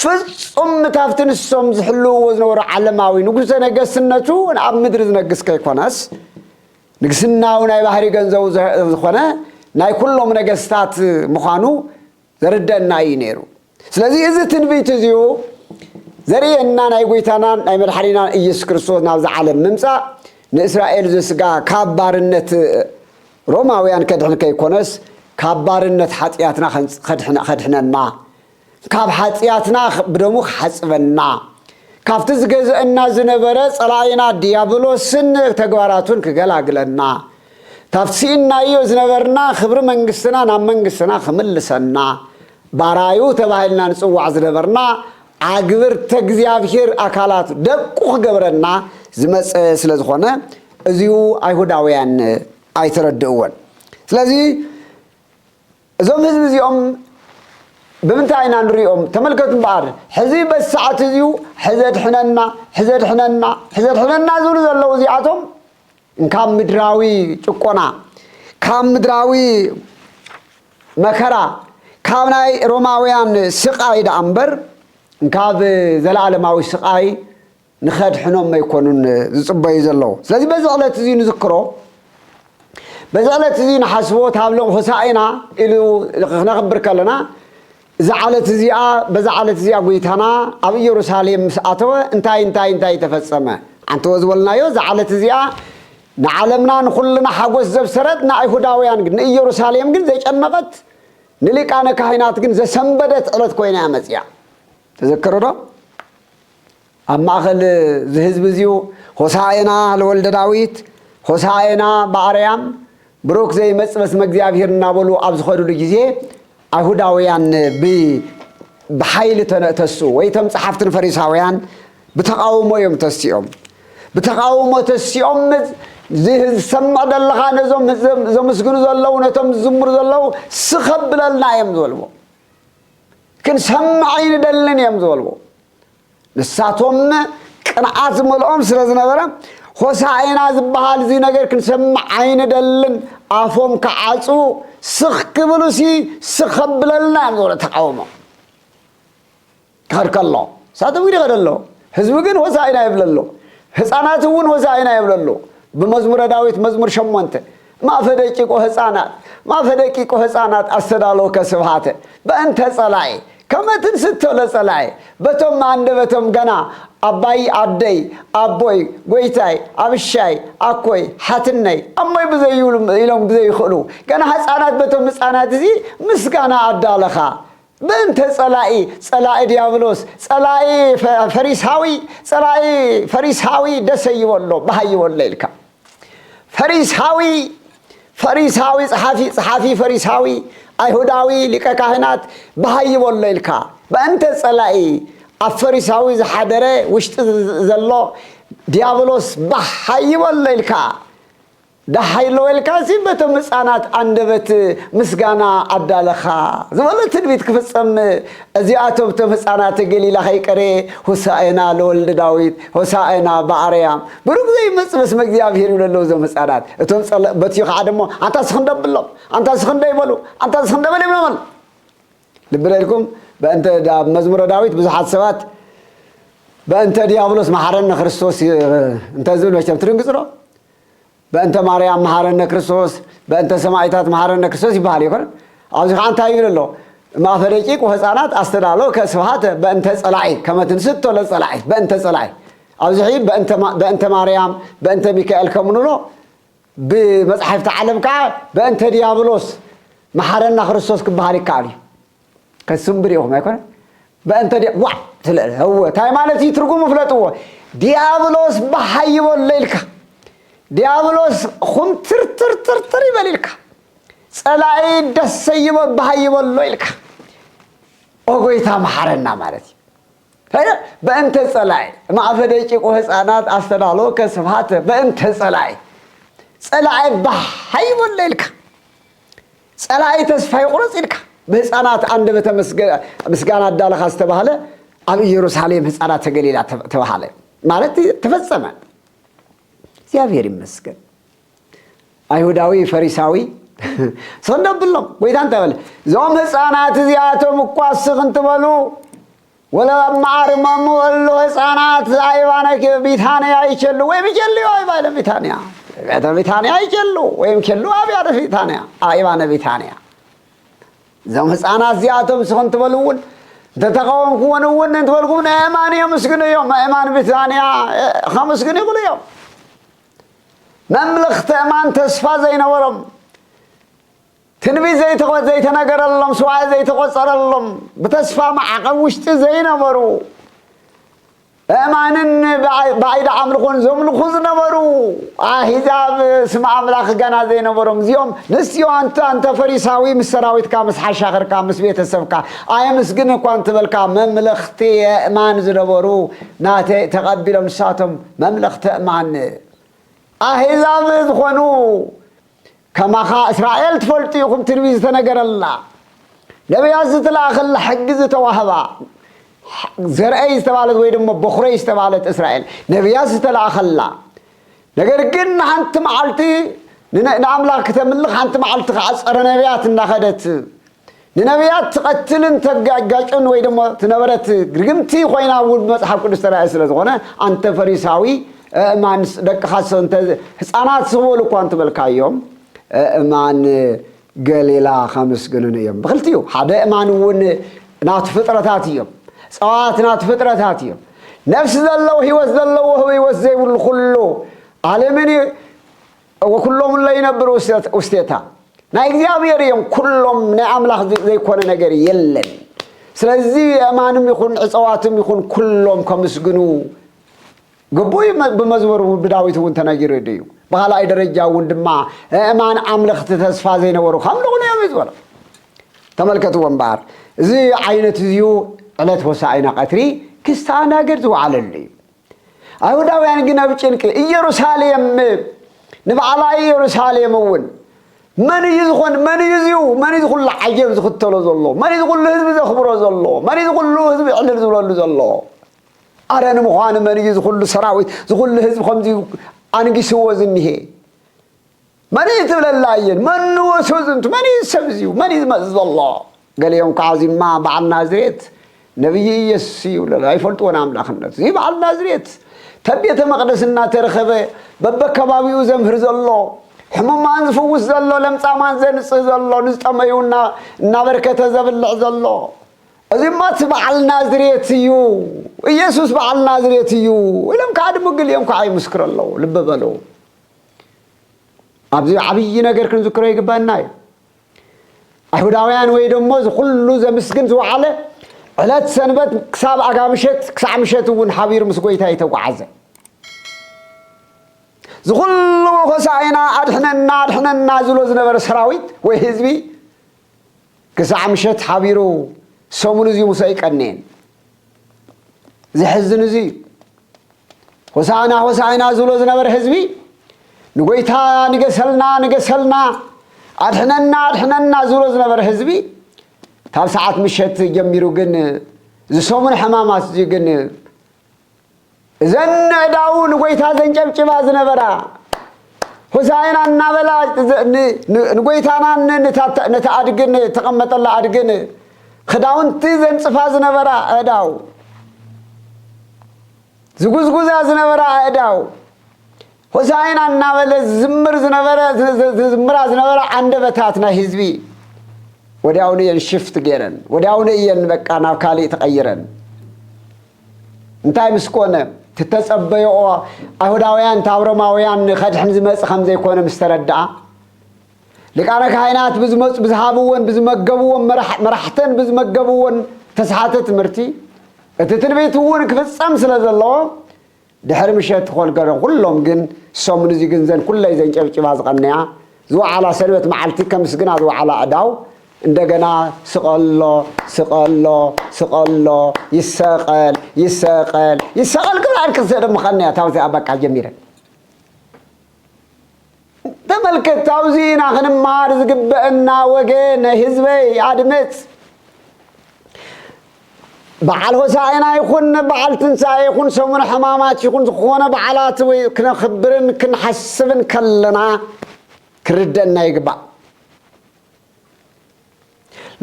ፍጹም ምታፍቲ ንሶም ዝሕልውዎ ዝነበሩ ዓለማዊ ንጉሠ ነገስነቱ ኣብ ምድሪ ዝነግስ ከይኮነስ ንግስናዊ ናይ ባህሪ ገንዘቡ ዝኾነ ናይ ኩሎም ነገስታት ምዃኑ ዘርደና እዩ ነይሩ ስለዚ እዚ ትንቢት እዚዩ ዘርእየና ናይ ጎይታናን ናይ መድሓኒናን ኢየሱስ ክርስቶስ ናብዚ ዓለም ምምፃእ ንእስራኤል ዘስጋ ካብ ባርነት ሮማውያን ከድሕን ከይኮነስ ካብ ባርነት ሓጢኣትና ከድሕነና ካብ ሓጢኣትና ብደሙ ክሓፅበና ካብቲ ዝገዘአና ዝነበረ ፀላኢና ዲያብሎስን ተግባራቱን ክገላግለና ካብቲ ስኢናዮ ዝነበርና ክብሪ መንግስትና ናብ መንግስትና ክምልሰና ባራዩ ተባሂልና ንጽዋዕ ዝነበርና ኣግብርተ እግዚኣብሔር ኣካላት ደቁ ክገብረና ዝመጸ ስለ ዝኾነ እዚኡ ኣይሁዳውያን ኣይተረድእዎን ስለዚ እዞም ህዝቢ እዚኦም ብምንታይ ኢና ንሪኦም ተመልከቱ እምበኣር ሕዚ በዚ ሰዓት እዚኡ ሕዘድሕነና ሕዘድሕነና ሕዘድሕነና ዝብሉ ዘለዉ እዚኣቶም ካብ ምድራዊ ጭቆና፣ ካብ ምድራዊ መከራ፣ ካብ ናይ ሮማውያን ስቓይ ደኣ እምበር ካብ ዘለኣለማዊ ስቓይ ንኸድሕኖም ኣይኮኑን ዝጽበዩ ዘለዉ። ስለዚ በዚ ዕለት እዚ ንዝክሮ፣ በዚ ዕለት እዚ ንሓስቦ፣ እታ ሆሳእና ኢሉ ክነኽብር ከለና እዛ ዓለት እዚኣ በዛ ዓለት እዚኣ ጐይታና ኣብ ኢየሩሳሌም ምስ ኣተወ እንታይ እንታይ እንታይ ተፈጸመ? ዓንተወ ዝበልናዮ እዛ ዓለት እዚኣ ንዓለምና ንኹልና ሓጐስ ዘብሰረት ንኣይሁዳውያን ግን ንኢየሩሳሌም ግን ዘጨነቐት ንሊቃነ ካህናት ግን ዘሰንበደት ዕለት ኮይና እያ መጺኣ። ተዘከሩዶ? ኣብ ማእከል እዚ ህዝቢ እዚዩ ሆሣዕና ለወልደ ዳዊት፣ ሆሣዕና በኣርያም፣ ብሩክ ዘይመጽእ በስመ እግዚኣብሔር እናበሉ ኣብ ዝኸዱሉ ጊዜ ኣይሁዳውያን ብ ብሓይሊ ተስኡ ወይ እቶም ጸሓፍትን ፈሪሳውያን ብተቓውሞ እዮም ተሲኦም ብተቓውሞ ተሲኦም ዝሰምዕ ዘለኻ ነዞም ዘምስግኑ ዘለዉ ነቶም ዝዝምሩ ዘለዉ ስኸብለልና እዮም ዝበልዎ ክንሰምዕ ኣይንደልን እዮም ዝበልዎ ንሳቶም ቅንኣት ዝመልኦም ስለ ዝነበረ ሆሳእና ዝበሃል እዚ ነገር ክንሰምዕ ኣይንደልን ኣፎም ክዓጽዉ ስኽ ክብሉ ሲ ስኽ ከብለልና እዮም ዝበሎ ተቃውሞ ክኸድ ከሎ ንሳቶም ግን ይኸደ ኣሎ ህዝቢ ግን ሆሳእና የብለሉ ህፃናት እውን ሆሳእና የብለሉ ብመዝሙረ ዳዊት መዝሙር ሸሞንተ ማፈ ደቂቆ ህጻናት ማፈ ደቂቆ ህጻናት ኣስተዳለወከ ስብሃተ በእንተ ጸላኢ ከመ ትንስቶ ለጸላኢ በቶም መኣንደበቶም ገና ኣባይ ኣደይ ኣቦይ ጎይታይ ኣብሻይ ኣኮይ ሓትነይ ኣሞይ ብዘይብሉ ኢሎም ብዘይክእሉ ገና ህጻናት በቶም ህጻናት እዚ ምስጋና ኣዳለኻ ምእንተ ጸላኢ ጸላኢ ድያብሎስ ጸላኢ ፈሪሳዊ ጸላኢ ፈሪሳዊ ደሰ ይበሎ ባህ ይበሎ ኢልካ ፈሪሳዊ ፈሪሳዊ ጸሓፊ ጸሓፊ ፈሪሳዊ ኣይሁዳዊ ሊቀ ካህናት ባህ ይበሎ ኢልካ ምእንተ ጸላኢ ኣብ ፈሪሳዊ ዝሓደረ ውሽጢ ዘሎ ድያብሎስ ባህ ይበሎ ኢልካ ደሃይ ሎዌልካሲ በቶም ህጻናት ኣንደበት ምስጋና ኣዳለኻ ዝበሎ ትንቢት ክፍጸም እዚኣቶም እቶም ህጻናተ ገሊላ ከይቀረየ ሆሳእና ለወልደ ዳዊት ሆሳእና በኣርያም ብሩክ ዘይመጽእ በስመ እግዚኣብሔር ይብሉ ኣለዉ እዞም ህጻናት እቶም ጸለ በትዩ ከዓ ደሞ ኣንታ ስክንደ ብሎም ኣንታ ስክንደ ይበሉ ኣንታ ስክንደ በል ይብሎም ኣሎ ልቢ ለልኩም በእንተ መዝሙረ ዳዊት ብዙሓት ሰባት በእንተ ዲያብሎስ መሓረነ ክርስቶስ እንተ ዝብል መቸም ትድንግጽ ዶ በእንተ ማርያም መሓረነ ክርስቶስ በእንተ ሰማዒታት መሓረነ ክርስቶስ ይበሃል ኣይኮነን ኣብዚ ከዓ እንታይ ይብል ኣሎ ማእፈ ደቂቅ ወህፃናት ኣስተዳሎ ከስብሃተ በእንተ ፀላዒ ከመትንስቶ ለፀላዒ በእንተ ፀላዒ ኣብዚ ሕይ በእንተ ማርያም በእንተ ሚካኤል ከምንብሎ ብመፅሓፍቲ ዓለም ከዓ በእንተ ዲያብሎስ መሓረና ክርስቶስ ክበሃል ይከኣል እዩ ከስምብር ኢኹም ኣይኮነ በእንተ ዲያ ዋ ስለ እወ ታይ ማለት እዩ ትርጉሙ ፍለጥዎ ዲያብሎስ ባሓይ ይበሎ ኢልካ ዲያብሎስ ኹምትርትርትርትር ይበል ኢልካ ፀላኢ ደሰ ይበ ባሃይ ይበሎ ኢልካ ኦጎይታ መሓረና ማለት እዩ ታዲያ በእንተ ፀላኢ ማዕፈ ደቂቁ ህፃናት ኣስተዳሎከ ስብሃተ በእንተ ፀላኢ ፀላኢ ባሓይ ይበሎ ኢልካ ጸላኢ ተስፋ ይቑረጽ ኢልካ ብህፃናት ኣንደበተ ምስጋና ኣዳለኻ ዝተባህለ ኣብ ኢየሩሳሌም ህፃናት ተገሊላ ተባሃለ ማለት ተፈጸመ። እግዚኣብሔር ይመስገን። ኣይሁዳዊ ፈሪሳዊ ሰንዶ ብሎም ጎይታ እንታይ በለ? እዞም ህፃናት እዚኣቶም እኳ ስኽ እንትበሉ ወለ ኣብ መዓር ማሙ እሉ ህፃናት ኣይባነክ ቢታንያ ይቸሉ ወይም ይቸልዩ ኣይባይለ ቢታንያ ቤተ ቢታንያ ይቸሉ ወይም ቸሉ ኣብያደ ቢታንያ ኣይባነ ቢታንያ እዞም ህፃናት እዚኣቶም ስኹን ትበሉ እውን እንተተቃወምኩዎን እውን እንትበልኩም ንእማን የምስግኑ እዮም እማን ብሪታንያ ከመስግኑ ይኽእሉ እዮም መምልኽቲ እማን ተስፋ ዘይነበሮም ትንቢት ዘይተኸ ዘይተነገረሎም ስዋእ ዘይተቖጸረሎም ብተስፋ ማዕቐብ ውሽጢ ዘይነበሩ እማንን ባዒድ ኣምልኾን ዘምልኹ ዝነበሩ ኣሂዛብ ስም ኣምላኽ ገና ዘይነበሮም እዚኦም ንስዮ ኣንተ ኣንተ ፈሪሳዊ ምስ ሰራዊትካ ምስ ሓሻኽርካ ምስ ቤተሰብካ ኣየምስግን እኳ እንትበልካ መምለኽቲ የእማን ዝነበሩ ናተይ ተቐቢሎም ንሳቶም መምለኽቲ እማን ኣሂዛብ ዝኾኑ ከማኻ እስራኤል ትፈልጡ ኢኹም ትንቢት ዝተነገረላ ነቢያት ዝተላእኸላ ሕጊ ዝተዋህባ ዘርአይ ዝተባለት ወይ ድማ በኹረይ ዝተባለት እስራኤል ነቢያት ዝተላእኸላ ነገር ግን ንሓንቲ መዓልቲ ንኣምላኽ ክተምልኽ ሓንቲ መዓልቲ ከዓ ፀረ ነቢያት እናኸደት ንነብያት ትቐትልን ተጋጋጭን ወይ ደሞ ትነበረት ርግምቲ ኮይና ውን ብመጽሓፍ ቅዱስ ተራእየ ስለ ዝኾነ ኣንተ ፈሪሳዊ እእማን ደቅኻሰ እንተ ህጻናት ስቕበሉ እኳ እንትበልካዮም እእማን ገሊላ ከምስግኑን እዮም ብክልቲኡ ሓደ እእማን ውን ናቱ ፍጥረታት እዮም ጸዋት ናቱ ፍጥረታት እዮም ነፍሲ ዘለዎ ህይወት ዘለዎ ህይወት ዘይብሉ ኩሉ ዓለምን እወ ኩሎም እለ ይነብሩ ውስቴታ ናይ እግዚኣብሔር እዮም ኩሎም ናይ ኣምላኽ ዘይኮነ ነገር የለን ስለዚ የእማንም ይኹን ዕፀዋትም ይኹን ኩሎም ከምስግኑ ግቡእ ብመዝሙር ብዳዊት እውን ተነጊሩ እዩ ብካልኣይ ደረጃ እውን ድማ እእማን ኣምለኽቲ ተስፋ ዘይነበሩ ከምልኹን እዮም እዩ ዝበሎ ተመልከትዎ እምበኣር እዚ ዓይነት እዚዩ ዕለት ሆሳኢና ቀትሪ ክስተኣናገድ ዝወዓለሉ እዩ ኣይሁዳውያን ግን ኣብ ጭንቂ ኢየሩሳሌም ንባዕላ ኢየሩሳሌም እውን መን እዩ ዝኾን መን እዩ እዚኡ መን እዩ ዝኹሉ ዓጀብ ዝኽተሎ ዘሎ መን እዩ ዝኹሉ ህዝቢ ዘኽብሮ ዘሎ መን እዩ ዝኹሉ ህዝቢ ዕልል ዝብለሉ ዘሎ ኣረ ንምዃኑ መን እዩ ዝኹሉ ሰራዊት ዝኹሉ ህዝቢ ከምዚ ኣንጊስዎ ዝኒሄ መን እዩ ትብለላ እየን መኑ ወሱ ዝንቱ መን እዩ ሰብ እዚዩ መን እዩ ዝመፅ ዘሎ ገሊኦም ከዓ እዚማ በዓል ናዝሬት ነብይ እየሱስ እዩ ይብለሉ ኣይፈልጥዎን ኣምላክነቱ እዚ በዓል ናዝሬት ተብ ቤተ መቅደስ እናተረኸበ በበከባቢኡ ዘምህር ዘሎ ሕሙማን ዝፍውስ ዘሎ ለምፃማን ዘንፅህ ዘሎ ንዝጠመዩ እናበርከተ ዘብልዕ ዘሎ እዚማ እቲ በዓል ናዝሬት እዩ ኢየሱስ በዓል ናዝሬት እዩ ኢሎም ከዓ ድምግል እዮም ከዓ ይምስክሩ ኣለዉ ልቢ በሉ ኣብዚ ዓብዪ ነገር ክንዝክሮ ይግባና እዩ። ኣይሁዳውያን ወይ ደሞ ዝኩሉ ዘምስግን ዝወዓለ ዕለት ሰንበት ክሳብ ኣጋ ምሸት ክሳዕ ምሸት እውን ሓቢሩ ምስ ጎይታ ይተጓዓዘ ዝኩሉ ሆሳዕና ኣድሕነና ኣድሕነና ዝብሎ ዝነበረ ሰራዊት ወይ ህዝቢ ክሳዕ ምሸት ሓቢሩ ሰሙን እዚ ምስ ኣይቀነየን። ዘሕዝን እዚ እዩ። ሆሳዕና ሆሳዕና ዝብሎ ዝነበረ ህዝቢ ንጎይታ ንገሰልና ንገሰልና ኣድሕነና ኣድሕነና ዝብሎ ዝነበረ ህዝቢ ካብ ሰዓት ምሸት ጀሚሩ ግን ዝሰሙን ሕማማት እዚ ግን እዘን ነዕዳዉ ንጎይታ ዘንጨብጭባ ዝነበራ ሆሳይና እናበላ ንጎይታናን ነቲ ኣድግን ተቐመጠላ ኣድግን ክዳውንቲ ዘንጽፋ ዝነበራ ኣእዳው ዝጉዝጉዛ ዝነበራ ኣእዳው ሆሣዕና እናበለ ዝዝምር ዝነበረ ዝዝምራ ዝነበራ ዓንደበታት ናይ ህዝቢ ወዲያውኑ እየን ሽፍት ገይረን ወዲያውኑ እየን በቃ ናብ ካሊእ ተቐይረን እንታይ ምስ ኮነ ትተጸበየኦ ኣይሁዳውያን እታ ኣብሮማውያን ከድሕን ዝመጽ ከም ዘይኮነ ምስ ተረድኣ ሊቃነ ካህናት ብዝመጹ ብዝሃብዎን ብዝመገብዎን መራሕተን ብዝመገብዎን ተስሓተ ትምህርቲ እቲ ትንቢት እውን ክፍጸም ስለ ዘለዎ ድሕሪ ምሸት ኾልገረ ኹሎም ግን ሰሙን እዚ ግን ዘን ኩለይ ዘንጨብጭባ ዝቐነያ ዝወዓላ ሰንበት መዓልቲ ከምስግና ዝወዓላ ኣእዳው እንደገና ስቐሎ ስቐሎ ስቐሎ ይሰቐል ይሰቐል ይሰቐል ክሳዕድ ክትስእን ምኸነያ ታብዚኣ በቃ ጀሚረን። ተመልከት ኣብዚ ኢና ክንመሃር ዝግበአና ወገነ ህዝበይ ኣድምፅ በዓል ሆሳዕና ይኹን በዓል ትንሣኤ ይኹን ሰሙን ሕማማት ይኹን ዝኾነ በዓላት ወይ ክነኽብርን ክንሓስብን ከለና ክርደና ይግባእ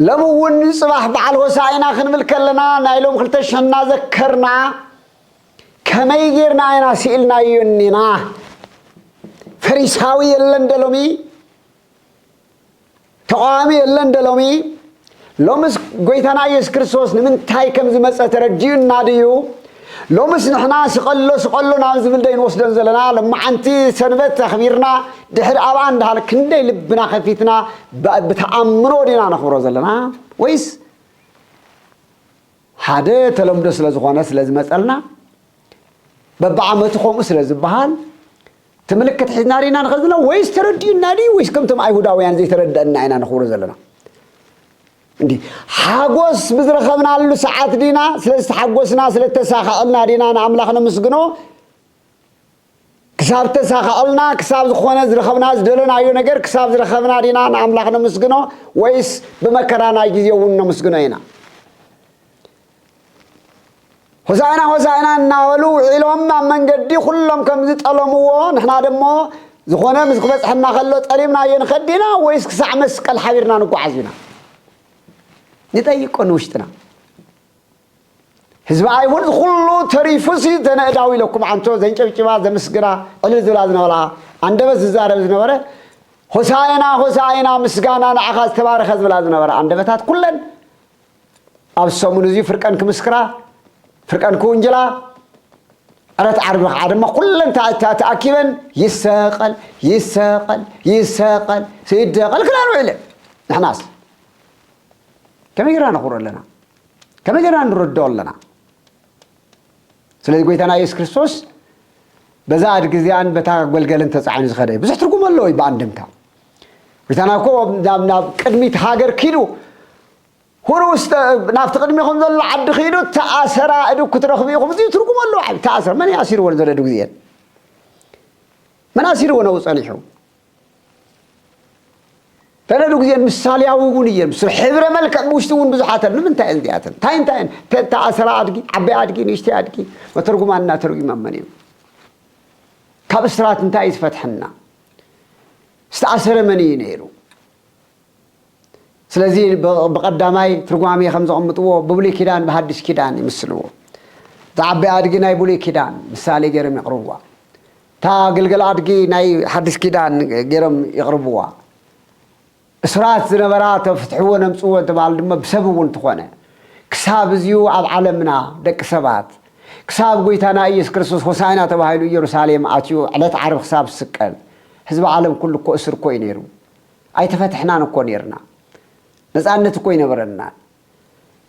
ሎም እውን ፅባሕ በዓል ሆሳዕና ክንብል ከለና ናይ ሎም ክልተ ሸና ዘከርና ከመይ ጌርና ኢና ስኢልናዮ እኒና? ፈሪሳዊ የለን ዶ ሎሚ? ተቓዋሚ የለን ዶ ሎሚ? ሎምስ ጐይታና ኢየሱስ ክርስቶስ ንምንታይ ከም ዝመጸ ተረዲኡና ድዩ? ሎምስ ንሕና ስቐሎ ስቐሎ ናብ ዝብል ዶ ይንወስዶን ዘለና? ሎማዓንቲ ሰንበት ኣኽቢርና ድሕሪ ኣብኣ እንዳሃለ ክንደይ ልብና ከፊትና ብተኣምኖ ዲና ነኽብሮ ዘለና ወይስ ሓደ ተለምዶ ስለ ዝኾነ ስለ ዝመጸልና በብዓመቱ ከምኡ ስለ ዝበሃል እቲ ምልክት ሒዝና ርኢና ንኸ ዘለና ወይስ ተረዲኡና ድዩ ወይስ ከምቶም ኣይሁዳውያን ዘይተረድአና ኢና ንኽብሮ ዘለና እንዲ ሓጎስ ብዝረኸብናሉ ሰዓት ዲና ስለ ዝተሓጎስና ስለ ተሳኸዐልና ዲና ንኣምላኽ ነምስግኖ ክሳብ እተሳኽዐልና፣ ክሳብ ዝኾነ ዝረኸብና ዝደለናዮ ነገር ክሳብ ዝረኸብና ዲና ንኣምላኽ ነምስግኖ ወይስ ብመከራና ግዜ እውን ነምስግኖ ኢና? ሆሳእና ሆሳእና እናበሉ ውዒሎም ኣብ መንገዲ ኩሎም ከም ዝጠለምዎ ንሕና ደሞ ዝኾነ ምስ ክበጽሐና ከሎ ጠሊምናዮ ንኸድ ኢና ወይስ ክሳዕ መስቀል ሓቢርና ንጓዓዝ ኢና? ንጠይቆ ንውሽጥና። ህዝቢ ኣይሁድ ዝኹሉ ተሪፉሲ ዘነእዳው ኢለኩም ዓንቶ ዘንጨብጭባ ዘምስግና ዕልል ዝብላ ዝነበላ ኣንደበት ዝዛረብ ዝነበረ ሆሳዕና ሆሳዕና ምስጋና ንዓኻ ዝተባረኸ ዝብላ ዝነበራ ኣንደበታት ኩለን ኣብ ሰሙን እዚ ፍርቀን ክምስክራ ፍርቀን ክውንጅላ ዕለት ዓርቢ ከዓ ድማ ኩለን ተኣኪበን ይሰቀል ይሰቀል ይሰቀል ይደቀል ክላን ውዒለን ንሕናስ ከመይ ጌርና ነኽብሮ ኣለና ከመይ ጌርና ንርድኦ ኣለና? ስለዚ ጎይታና የሱስ ክርስቶስ በዛ ኣድጊ እዚኣን በታ ገልገልን ተጻዒኑ ዝኸደ ብዙሕ ትርጉም ኣለዎ እዩ ብኣንድምታ። ጎይታና እኮ ናብ ናብ ቅድሚት ሃገር ኪዱ ሁሩ ውስተ ናብቲ ቅድሚኹም ዘሎ ዓዲ ኪዱ ተኣሰራ እድግ ክትረኽቡ ኢኹም እዚ ትርጉም ኣለዎ ዓቢ ተኣሰራ መን እዩ ኣሲርዎ ንዘለ እድግ እዚኤን መን ኣሲርዎ ነብኡ ጸኒሑ ተነዱ ግዜ ምሳልያዊ እውን እየን ምስ ሕብረ መልክዕ ብውሽጢ እውን ብዙሓት ኣሉ ምንታይ እየን እዚኣተን እንታይ እንታይ እየን ፔታ ኣሰራ ኣድጊ ዓበይ ኣድጊ ንእሽተይ ኣድጊ መተርጉማን እና ተርጒማመን እዮም ካብ እስራት እንታይ እዩ ዝፈትሐና ዝተኣሰረ መን እዩ ነይሩ ስለዚ ብቐዳማይ ትርጓሜ ከም ዘቕምጥዎ ብብሉይ ኪዳን ብሃዲስ ኪዳን ይምስልዎ። እታ ዓባይ ኣድጊ ናይ ብሉይ ኪዳን ምሳሌ ገይሮም የቕርብዋ። እታ ግልገል ኣድጊ ናይ ሓዲስ ኪዳን ገይሮም የቕርብዋ። እሱራት ዝነበራ ተፍትሕወን ኣምጽዎ እንተበሃሉ ድማ ብሰብ እውን እንተኾነ ክሳብ እዚዩ ኣብ ዓለምና ደቂ ሰባት ክሳብ ጎይታና ኢየሱስ ክርስቶስ ሆሳዕና ተባሂሉ ኢየሩሳሌም ኣትዩ ዕለት ዓርቢ ክሳብ ዝስቀል ህዝቢ ዓለም ኩሉ እኮ እሱር እኮ እዩ ነይሩ። ኣይተፈትሕናን እኮ ኔርና ነፃነት እኮ ኣይነበረናን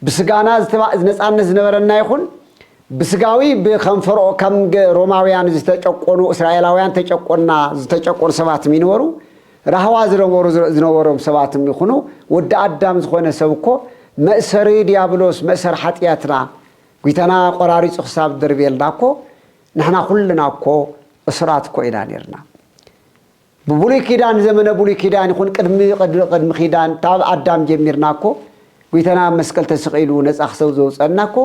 ብስጋና ነፃነት ዝነበረና ይኹን ብስጋዊ ብከም ፈርኦ ከም ሮማውያን ዝተጨቆኑ እስራኤላውያን ተጨቆና ዝተጨቆኑ ሰባትም ይነበሩ ራህዋ ዝነበሩ ዝነበሮም ሰባትም ይኹኑ ወዲ ኣዳም ዝኾነ ሰብ እኮ መእሰሪ ዲያብሎስ መእሰሪ ሓጥያትና ጒይታና ቆራሪፁ ክሳብ ዝደርብየልና እኮ ንሕና ኩልና እኮ እሱራት እኮ ኢና ኔርና ብብሉይ ኪዳን ዘመነ ብሉይ ኪዳን ይኹን ቅድሚ ቅድሚ ኪዳን ካብ ኣዳም ጀሚርና እኮ ጉይታና ኣብ መስቀል ተሰቂሉ ነጻ ክሰብ ዘውጸና እኮ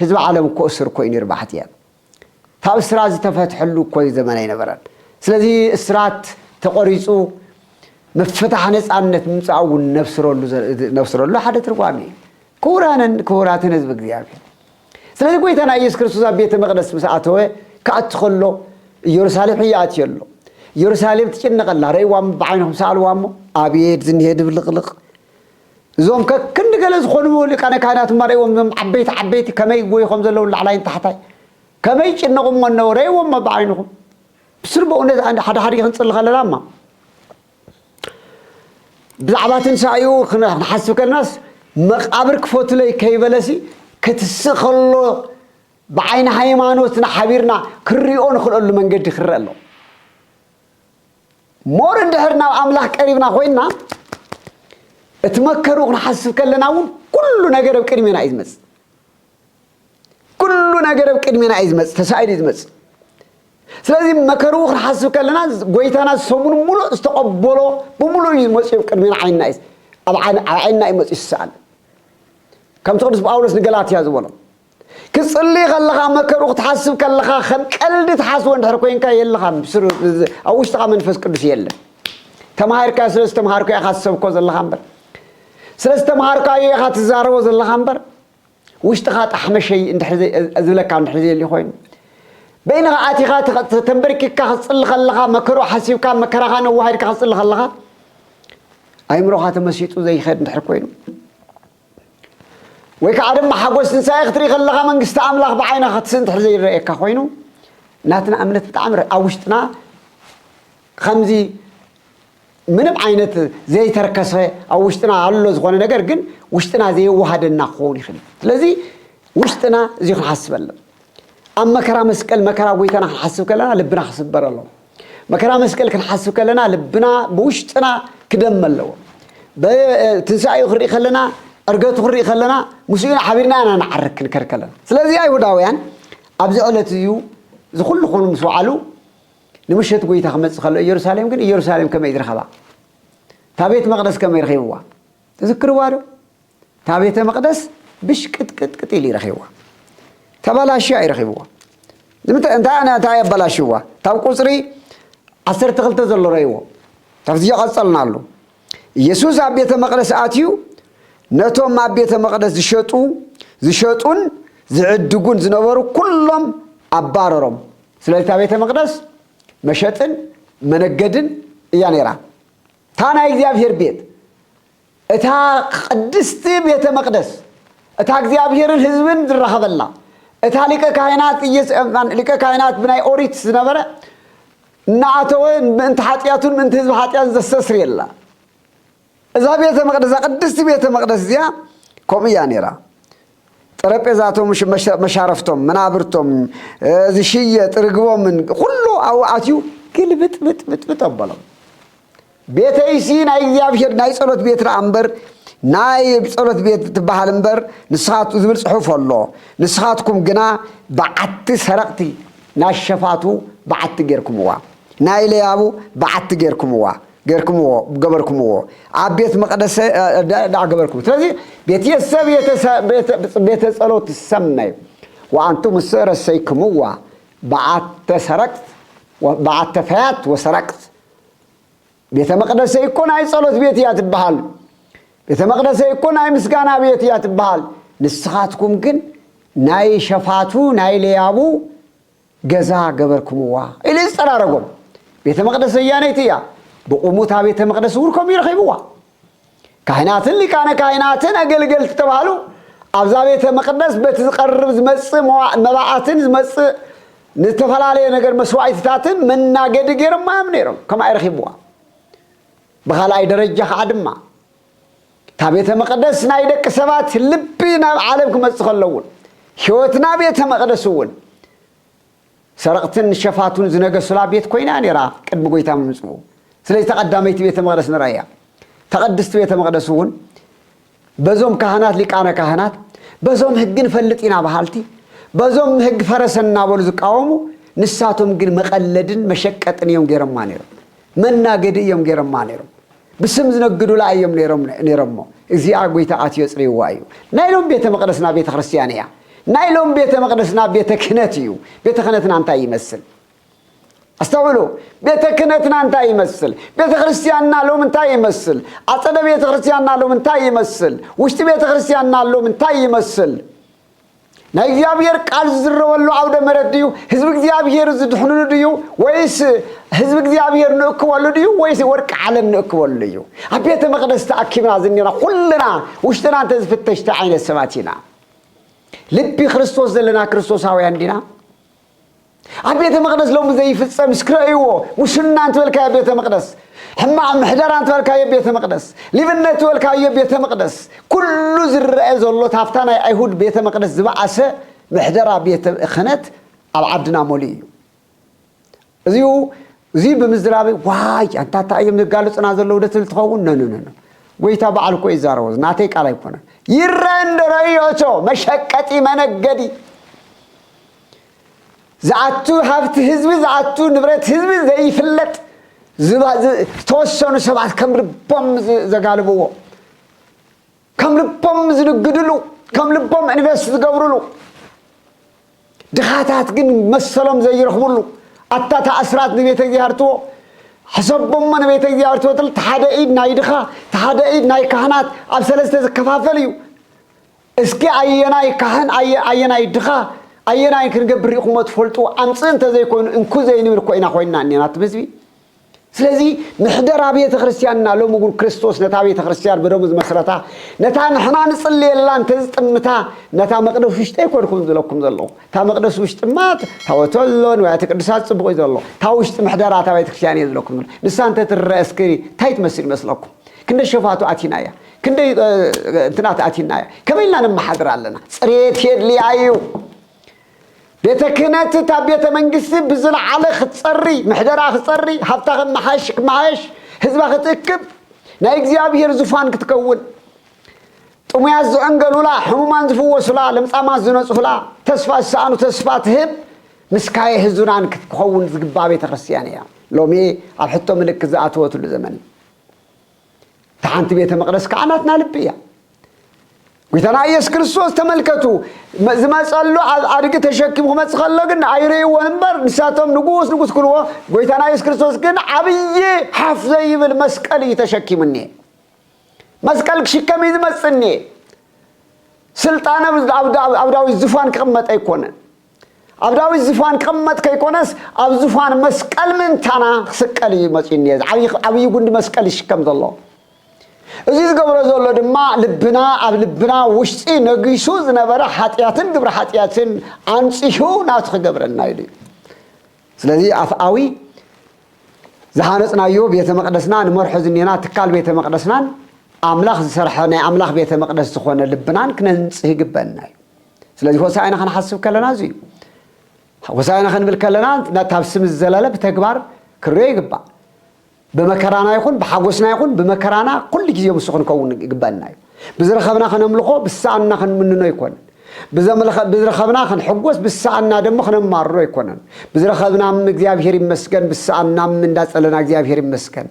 ህዝቢ ዓለም እኮ እስር እኮ እዩ ነይሩ ባሕትያ ካብ እስራት ዝተፈትሐሉ እኮ እዩ ዘመን ኣይነበረን ስለዚ እስራት ተቆሪጹ ምፍታሕ ነጻነት ምምጻእ እውን ነብስረሉ ነብስረሉ ሓደ ትርጓሜ እዩ ክቡራንን ክቡራትን ህዝቢ እግዚኣብሔር ስለዚ ጐይታና ኢየሱስ ክርስቶስ ኣብ ቤተ መቕደስ ምስ ኣተወ ክኣቱ ከሎ ኢየሩሳሌም ሕዮ ኣትዮ ኣሎ። ኢየሩሳሌም ትጭነቕ ኣላ። ርእይዋ እሞ ብዓይንኹም ሰኣልዋ እሞ ኣቤት ዝንሄ ድብልቕልቕ! እዞም ከክንዲ ገለ ዝኾኑ ሊቃነ ካህናት እማ ርእይዎም እዞም ዓበይቲ ዓበይቲ ከመይ ይጐዩ ከም ዘለዉ ላዕላይን ታሕታይ ከመይ ይጭነቑ እሞ እነሆ ርእይዎም እሞ ብዓይንኹም ብስሩ በእውነት ሓደ ሓደ ክንጽሊ ከለና እማ ብዛዕባ ትንሳኤኡ ክንሓስብ ከልናስ መቃብር ክፈቱለይ ከይበለሲ ክትስእ ከሎ ብዓይኒ ሃይማኖትና ሓቢርና ክንሪኦ ንኽእለሉ መንገዲ ክረአ ኣሎ ሞር እንድሕር ናብ ኣምላኽ ቀሪብና ኮይንና እቲ መከሩ ክንሓስብ ከለና እውን ኩሉ ነገር ኣብ ቅድሜና እዩ ዝመፅእ ኩሉ ነገር ኣብ ቅድሜና እዩ ዝመፅእ፣ ተሳኢሉ እዩ ዝመፅእ። ስለዚ መከርኡ ክንሓስብ ከለና ጎይታና ሰሙን ሙሉእ ዝተቐበሎ ብምሉእ እዩ መፅኡ ኣብ ቅድሜና ዓይንና እዩ ኣብ ዓይንና እዩ መፅኡ ዝሰኣል ከምቲ ቅዱስ ጳውሎስ ንገላትያ ዝበሎ ክፅሊ ከለኻ መከርኡ ክትሓስብ ከለኻ ከም ቀልዲ ትሓስቦ እንድሕር ኮንካ የለኻ ኣብ ውሽጥኻ መንፈስ ቅዱስ የለን ተማሂርካ ስለ ዝተምሃርኩ ኢኻ ትሰብኮ ዘለኻ እምበር ስለ ዝተምሃርካዮ ኢኻ ትዛረቦ ዘለኻ እምበር ውሽጥኻ ጣሕመሸይ እንድሕሪ ዝብለካ እንድሕሪ ዘየልዩ ኮይኑ በይንኻ ኣቲኻ ተንበርኪካ ክትፅሊ ከለኻ መከርኡ ሓሲብካ መከራኻ ነዋሃድካ ክትፅሊ ከለኻ ኣይምሮኻ ተመሲጡ ዘይኸድ እንድሕር ኮይኑ ወይ ከዓ ድማ ሓጎስ ትንሳኤ ክትርኢ ከለኻ መንግስቲ ኣምላኽ ብዓይና ክትስእ እንድሕር ዘይረእየካ ኮይኑ ናትና እምነት ብጣዕሚ ኣብ ውሽጥና ከምዚ ምንም ዓይነት ዘይተርከሰ ኣብ ውሽጥና ኣሎ ዝኾነ ነገር ግን ውሽጥና ዘየዋሃደና ክኸውን ይኽእል እዩ ስለዚ ውሽጥና እዚ ክንሓስብ ኣለና ኣብ መከራ መስቀል መከራ ጎይታና ክንሓስብ ከለና ልብና ክስበር ኣለዎ መከራ መስቀል ክንሓስብ ከለና ልብና ብውሽጥና ክደመ ኣለዎ ትንሳኤኡ ክንርኢ ከለና ዕርገቱ ክንርኢ ከለና ምስኡ ሓቢርና ኢና ንዓርግ ክንከር ከለና ስለዚ ኣይሁዳውያን ኣብዚ ዕለት እዩ ዝኩሉ ኮኑ ምስ በዓሉ ንምሸት ጐይታ ክመጽእ ከሎ ኢየሩሳሌም ግን ኢየሩሳሌም ከመይ እዩ ዝረኸባ? እታ ቤት መቕደስ ከመይ ረኺብዋ? ትዝክርዋ ዶ? እታ ቤተ መቕደስ ብሽቅጥቅጥቅጥ ኢሉ ይረኺብዋ ተባላሽያ እዩ ረኺብዎ ንምንታይ እንታይ ኣነ እንታይ ኣባላሽዋ ካብ ቁፅሪ ዓሰርተ ክልተ ዘሎ ረይዎ ካብዚ ዝቐፀልና ኣሉ ኢየሱስ ኣብ ቤተ መቕደስ ኣትዩ ነቶም ኣብ ቤተ መቕደስ ዝሸጡ ዝሸጡን ዝዕድጉን ዝነበሩ ኩሎም ኣባረሮም ስለዚ እታ ቤተ መቕደስ መሸጥን መነገድን እያ ነይራ። እታ ናይ እግዚኣብሔር ቤት እታ ቅድስቲ ቤተ መቅደስ እታ እግዚኣብሔርን ህዝብን ዝራኸበላ እታ ሊቀ ካህናት ሊቀ ካህናት ብናይ ኦሪት ዝነበረ እናኣተወ ምእንቲ ሓጢኣቱን ምእንቲ ህዝቢ ሓጢኣት ዘስተስርየላ እዛ ቤተ መቅደስ እዛ ቅድስቲ ቤተ መቅደስ እዚኣ ከምኡ እያ ነይራ። ጠረጴዛቶም፣ መሻረፍቶም፣ መናብርቶም፣ ዝሽየጥ ርግቦምን ኩሉ ኣብኡ ኣትዩ ግልብጥብጥብጥብጥ ኣበሎም። ቤተይሲ ናይ እግዚኣብሔር ናይ ጸሎት ቤት ደኣ እምበር ናይ ጸሎት ቤት ትበሃል እምበር ንስኻት ዝብል ጽሑፍ ኣሎ። ንስኻትኩም ግና በዓቲ ሰረቕቲ ናይ ሸፋቱ በዓቲ ጌርኩምዋ፣ ናይ ለያቡ በዓቲ ጌርኩምዋ፣ ጌርኩምዎ ገበርኩምዎ ኣብ ቤት መቅደሰ ዳኣ ገበርኩም ስለዚ ቤት የሰብ ቤተ ጸሎት ትሰመይ ወኣንቱም እሰ ረሰይክምዋ በዓተ ሰረቅት በዓተ ፈያት ወሰረቅት ቤተ መቅደሰይ እኮ ናይ ጸሎት ቤት እያ ትበሃል ቤተ መቅደሰይ እኮ ናይ ምስጋና ቤት እያ ትበሃል ንስኻትኩም ግን ናይ ሸፋቱ ናይ ለያቡ ገዛ ገበርኩምዋ ኢሉ ዝጸራረጎም። ቤተ መቕደስ ዘያነይቲ እያ፣ ብቑሙ እታ ቤተ መቕደስ እውን ከምኡ እዩ ረኺብዋ። ካህናትን ሊቃነ ካህናትን ኣገልገልቲ ተባህሉ። ኣብዛ ቤተ መቕደስ በቲ ዝቐርብ ዝመጽእ መዋ- መባኣትን ዝመጽእ ንዝተፈላለየ ነገር መስዋእቲታትን መናገዲ ገይሮማ እዮም ነይሮም፣ ከምኣ እዩ ረኺብዋ። ብኻልኣይ ደረጃ ከዓ ድማ እታ ቤተ መቕደስ ናይ ደቂ ሰባት ልቢ ናብ ዓለም ክመጽእ ከሎ እውን ሕይወትና ቤተ መቕደስ እውን ሰረቕትን ሸፋቱን ዝነገሱላ ቤት ኮይና እያ ነይራ ቅድሚ ጎይታ ምምጽኡ ስለዚ ተቐዳመይቲ ቤተ መቕደስ ንረእያ ተቐድስቲ ቤተ መቕደስ እውን በዞም ካህናት ሊቃነ ካህናት በዞም ህግ ንፈልጥ ኢና በሃልቲ በዞም ህግ ፈረሰ እናበሉ ዝቃወሙ ንሳቶም ግን መቐለድን መሸቀጥን እዮም ገይሮማ ነይሮም መናገዲ እዮም ገይሮማ ነይሮም ብስም ዝነግዱላ እዮም ነይሮምሞ እግዚኣ ጎይታ ኣትዮ ኣጽሪይዋ እዩ ናይ ሎም ቤተ መቅደስና ቤተ ክርስትያን እያ ናይ ሎም ቤተ መቅደስና ቤተ ክህነት እዩ ቤተ ክህነትና እንታይ ይመስል ኣስተውዕሉ ቤተ ክህነትና እንታይ ይመስል ቤተ ክርስትያንና ሎም እንታይ ይመስል ኣጸደ ቤተ ክርስትያንና ሎም እንታይ ይመስል ውሽጢ ቤተ ክርስትያንና ሎም እንታይ ይመስል ናይ እግዚኣብሔር ቃል ዝዝረበሉ ዓውደ መረት ድዩ ህዝቢ እግዚኣብሔር ዝድሕንሉ ድዩ ወይስ ህዝቢ እግዚኣብሔር ንእክበሉ ድዩ ወይስ ወርቂ ዓለም ንእክበሉ እዩ ኣብ ቤተ መቅደስ ተኣኪብና ዝኒና ኩልና ውሽጥና እንተዝፍተሽ እንታይ ዓይነት ሰባት ኢና ልቢ ክርስቶስ ዘለና ክርስቶሳውያን ዲና ኣብ ቤተ መቅደስ ሎሚ ዘይፍጸም እስኪ ረእይዎ ሙስና እንትበልካዮ ቤተ መቅደስ ሕማቅ ምሕደራ እንትበልካዮ ቤተ መቅደስ ሊብነት ትበልካዮ ቤተ መቅደስ ኩሉ ዝረአ ዘሎ ታፍታ ናይ ኣይሁድ ቤተ መቅደስ ዝበኣሰ ምሕደራ ቤተ ክህነት ኣብ ዓድና መሊኡ እዩ እዚኡ እዚ ብምዝራበይ ዋይ ኣንታ እታ እዮም ዘጋልፁና ዘለዉ ደ ትብል ትኸውን ነነነነ ጎይታ በዓል እኮ ይዛረቦ ናተይ ቃል ኣይኮነን ይረአ እንዶ ረእዮ እቶ መሸቀጢ መነገዲ ዝኣቱ ሃብቲ ህዝቢ ዝኣቱ ንብረት ህዝቢ ዘይፍለጥ ዝተወሰኑ ሰባት ከም ልቦም ዘጋልብዎ ከም ልቦም ዝንግድሉ ከም ልቦም ኢንቨስት ዝገብርሉ ድኻታት ግን መሰሎም ዘይረኽብሉ ኣታ ተኣስራት ንቤተ እግዚኣብርትዎ ሕሰቦሞ ንቤተ እግዚኣብርትዎ ትል ተሓደ ኢድ ናይ ድኻ ተሓደ ኢድ ናይ ካህናት ኣብ ሰለስተ ዝከፋፈል እዩ እስኪ ኣየናይ ካህን ኣየ ኣየናይ ድኻ ኣየናይ ክንገብር ርኢኹሞ ትፈልጡ ኣምጽእ እንተዘይኮይኑ እንኩ ዘይንብል እኮ ኢና ኮይንና እኔና እትም ህዝቢ ስለዚ ምሕደራ ቤተ ክርስቲያንና ሎሚ ግን ክርስቶስ ነታ ቤተ ክርስቲያን ብደሙ ዝመስረታ ነታ ንሕና ንጽልየላ እንተ ዝጥምታ ነታ መቅደስ ውሽጢ ኣይኮንኩም ዝለኩም ዘለኹ እታ መቅደስ ውሽጢ ማ ታወቶ ኣሎ ንዋያተ ቅዱሳት ጽቡቕ እዩ ዘሎ እታ ውሽጢ ምሕደራ እታ ቤተ ክርስቲያን እየ ዝለኩም ዘሎ ንሳ እንተ ትረአ እስኪ እንታይ ትመስል ይመስለኩም ክንደ ሸፋቱ ኣቲና እያ ክንደይ እንትናት ኣቲና እያ ከመይ ኢልና ነመሓድር ኣለና ፅሬት የድልያ እዩ ቤተ ክህነት እታ ቤተ መንግስቲ ብዝለዓለ ክትፀሪ ምሕደራ ክትፀሪ ሃብታ ክመሓሽ ክመሓሽ ህዝባ ክትእክብ ናይ እግዚኣብሄር ዙፋን ክትከውን ጥሙያት ዝዕንገሉላ ሕሙማን ዝፍወሱላ ለምፃማት ዝነፁላ ተስፋ ዝሰኣኑ ተስፋ ትህብ ምስካየ ህዙናን ክትከውን ዝግባ ቤተ ክርስትያን እያ ሎሚ ኣብ ሕቶ ምልክት ዝኣተወትሉ ዘመን እታ ሓንቲ ቤተ መቕደስ ከዓ ናትና ልቢ እያ ጐይታና ኢየሱስ ክርስቶስ ተመልከቱ ዝመፀሉ ኣብ ኣድጊ ተሸኪሙ ክመፅ ከሎ ግን ኣይርእይዎ እምበር ንሳቶም ንጉስ ንጉስ ክልዎ ጐይታና ኢየሱስ ክርስቶስ ግን ዓብዪ ሓፍ ዘይብል መስቀል እዩ ተሸኪሙ እኒኤ መስቀል ክሽከም እዩ ዝመፅ እኒኤ ስልጣነ ኣብ ዳዊት ዝፋን ክቕመጥ ኣይኮነን ኣብ ዳዊት ዝፋን ክቕመጥ ከይኮነስ ኣብ ዝፋን መስቀል ምእንታና ክስቀል እዩ መፅኡ እኒሀ እዚ ዓብዪ ዓብዪ ጉንዲ መስቀል ይሽከም ዘሎ እዚ ዝገብሮ ዘሎ ድማ ልብና ኣብ ልብና ውሽጢ ነጊሱ ዝነበረ ሓጢኣትን ግብሪ ሓጢኣትን ኣንፂሁ ናቱ ክገብረና ኢሉ እዩ ስለዚ ኣፍኣዊ ዝሃነፅናዮ ቤተ መቅደስና ንመርሖ ዝኔና ትካል ቤተ መቅደስናን ኣምላኽ ዝሰርሐ ናይ ኣምላኽ ቤተ መቅደስ ዝኾነ ልብናን ክነንፅህ ይግበና እዩ ስለዚ ሆሳእና ክንሓስብ ከለና እዚ እዩ ሆሳእና ክንብል ከለና ካብ ስም ዝዘለለ ብተግባር ክንሪኦ ይግባእ ብመከራና ይኹን ብሓጎስና ይኹን ብመከራና ኩሉ ግዜ ምስ ክንከውን ይግበአና እዩ ብዝረኸብና ከነምልኾ ብሰኣንና ክንምንኖ ኣይኮነን ብዝረኸብና ክንሕጎስ ብሰኣንና ደሞ ክነማርሮ ኣይኮነን ብዝረኸብና እግዚኣብሔር ይመስገን ብሰኣንና እንዳጸለና እግዚኣብሔር ይመስገን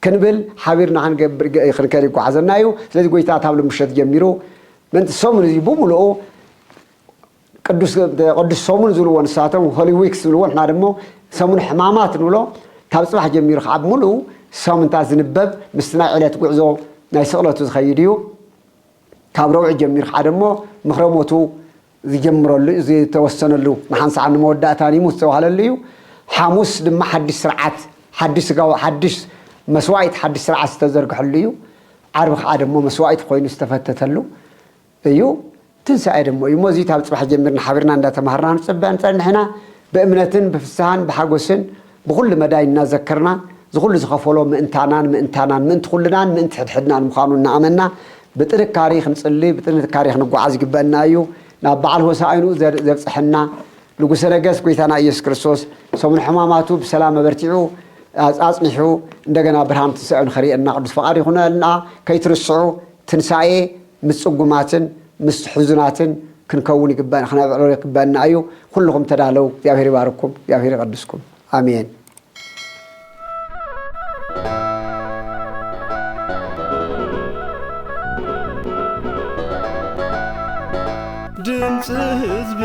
ክንብል ሓቢርና ክንገብር ክንከድ ይጓዓዘና እዩ ስለዚ ጎይታ ካብ ልምሸት ጀሚሩ ምእንቲ ሰሙን እዚ ብምሉኡ ቅዱስ ቅዱስ ሰሙን ዝብልዎ ንሳቶም ሆሊ ዊክስ ዝብልዎ ንሕና ደሞ ሰሙን ሕማማት ንብሎ ካብ ጽባሕ ጀሚሩ ከዓ ብምሉኡ ሰሙንታት ዝንበብ ምስቲ ናይ ዕለት ጉዕዞ ናይ ስቕለቱ ዝኸይድ እዩ ካብ ረውዒ ጀሚሩ ከዓ ደሞ ምኽረሞቱ ዝጀምረሉ እዩ፣ ዝተወሰነሉ ንሓንሳዕን ንመወዳእታን ይሙት ዝተባህለሉ እዩ። ሓሙስ ድማ ሓድሽ ስርዓት፣ ሓድሽ ስጋዊ፣ ሓድሽ መስዋኢት፣ ሓድሽ ስርዓት ዝተዘርግሐሉ እዩ። ዓርቢ ከኣ ደሞ መስዋኢት ኮይኑ ዝተፈተተሉ እዩ። ትንሳኤ ደሞ እዩ እሞ እዚ ካብ ጽባሕ ጀሚርና ሓቢርና እንዳተማሃርና ንጽበ ንጸንሕ ኢና። ብእምነትን ብፍስሃን ብሓጎስን። ብኹሉ መዳይ እናዘከርና፣ ዝኹሉ ዝኸፈሎ ምእንታናን ምእንታናን፣ ምእንቲ ኩልናን ምእንቲ ሕድሕድናን ምዃኑ እናኣመንና፣ ብጥንካሪ ክንጽሊ፣ ብጥንካሪ ክንጓዓዝ ይግበእና እዩ። ናብ በዓል ሆሣእንኡ ዘብጽሐና ንጉሠ ነገሥት ጐይታና ኢየሱስ ክርስቶስ፣ ሰሙነ ሕማማቱ ብሰላም ኣበርቲዑ ኣጽኒሑ፣ እንደገና ብርሃን ትንሣኤኡ ንኸርእየና ቅዱስ ፈቓዱ ይኹነልና። ከይትርስዑ ትንሣኤ ምስ ጽጉማትን ምስ ሕዙናትን ክንከውን ይግበእና ክነብዕሎ ይግበእና እዩ ኩሉኹም ተዳለው እግዚኣብሔር ይባርኩም እግዚኣብሔር ይቀድስኩም ኣሜን። ድምፂ ህዝቢ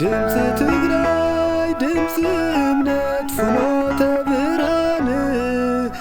ድምፂ ትግራይ ድምፂ እምነት ፍኖተ ብርሃን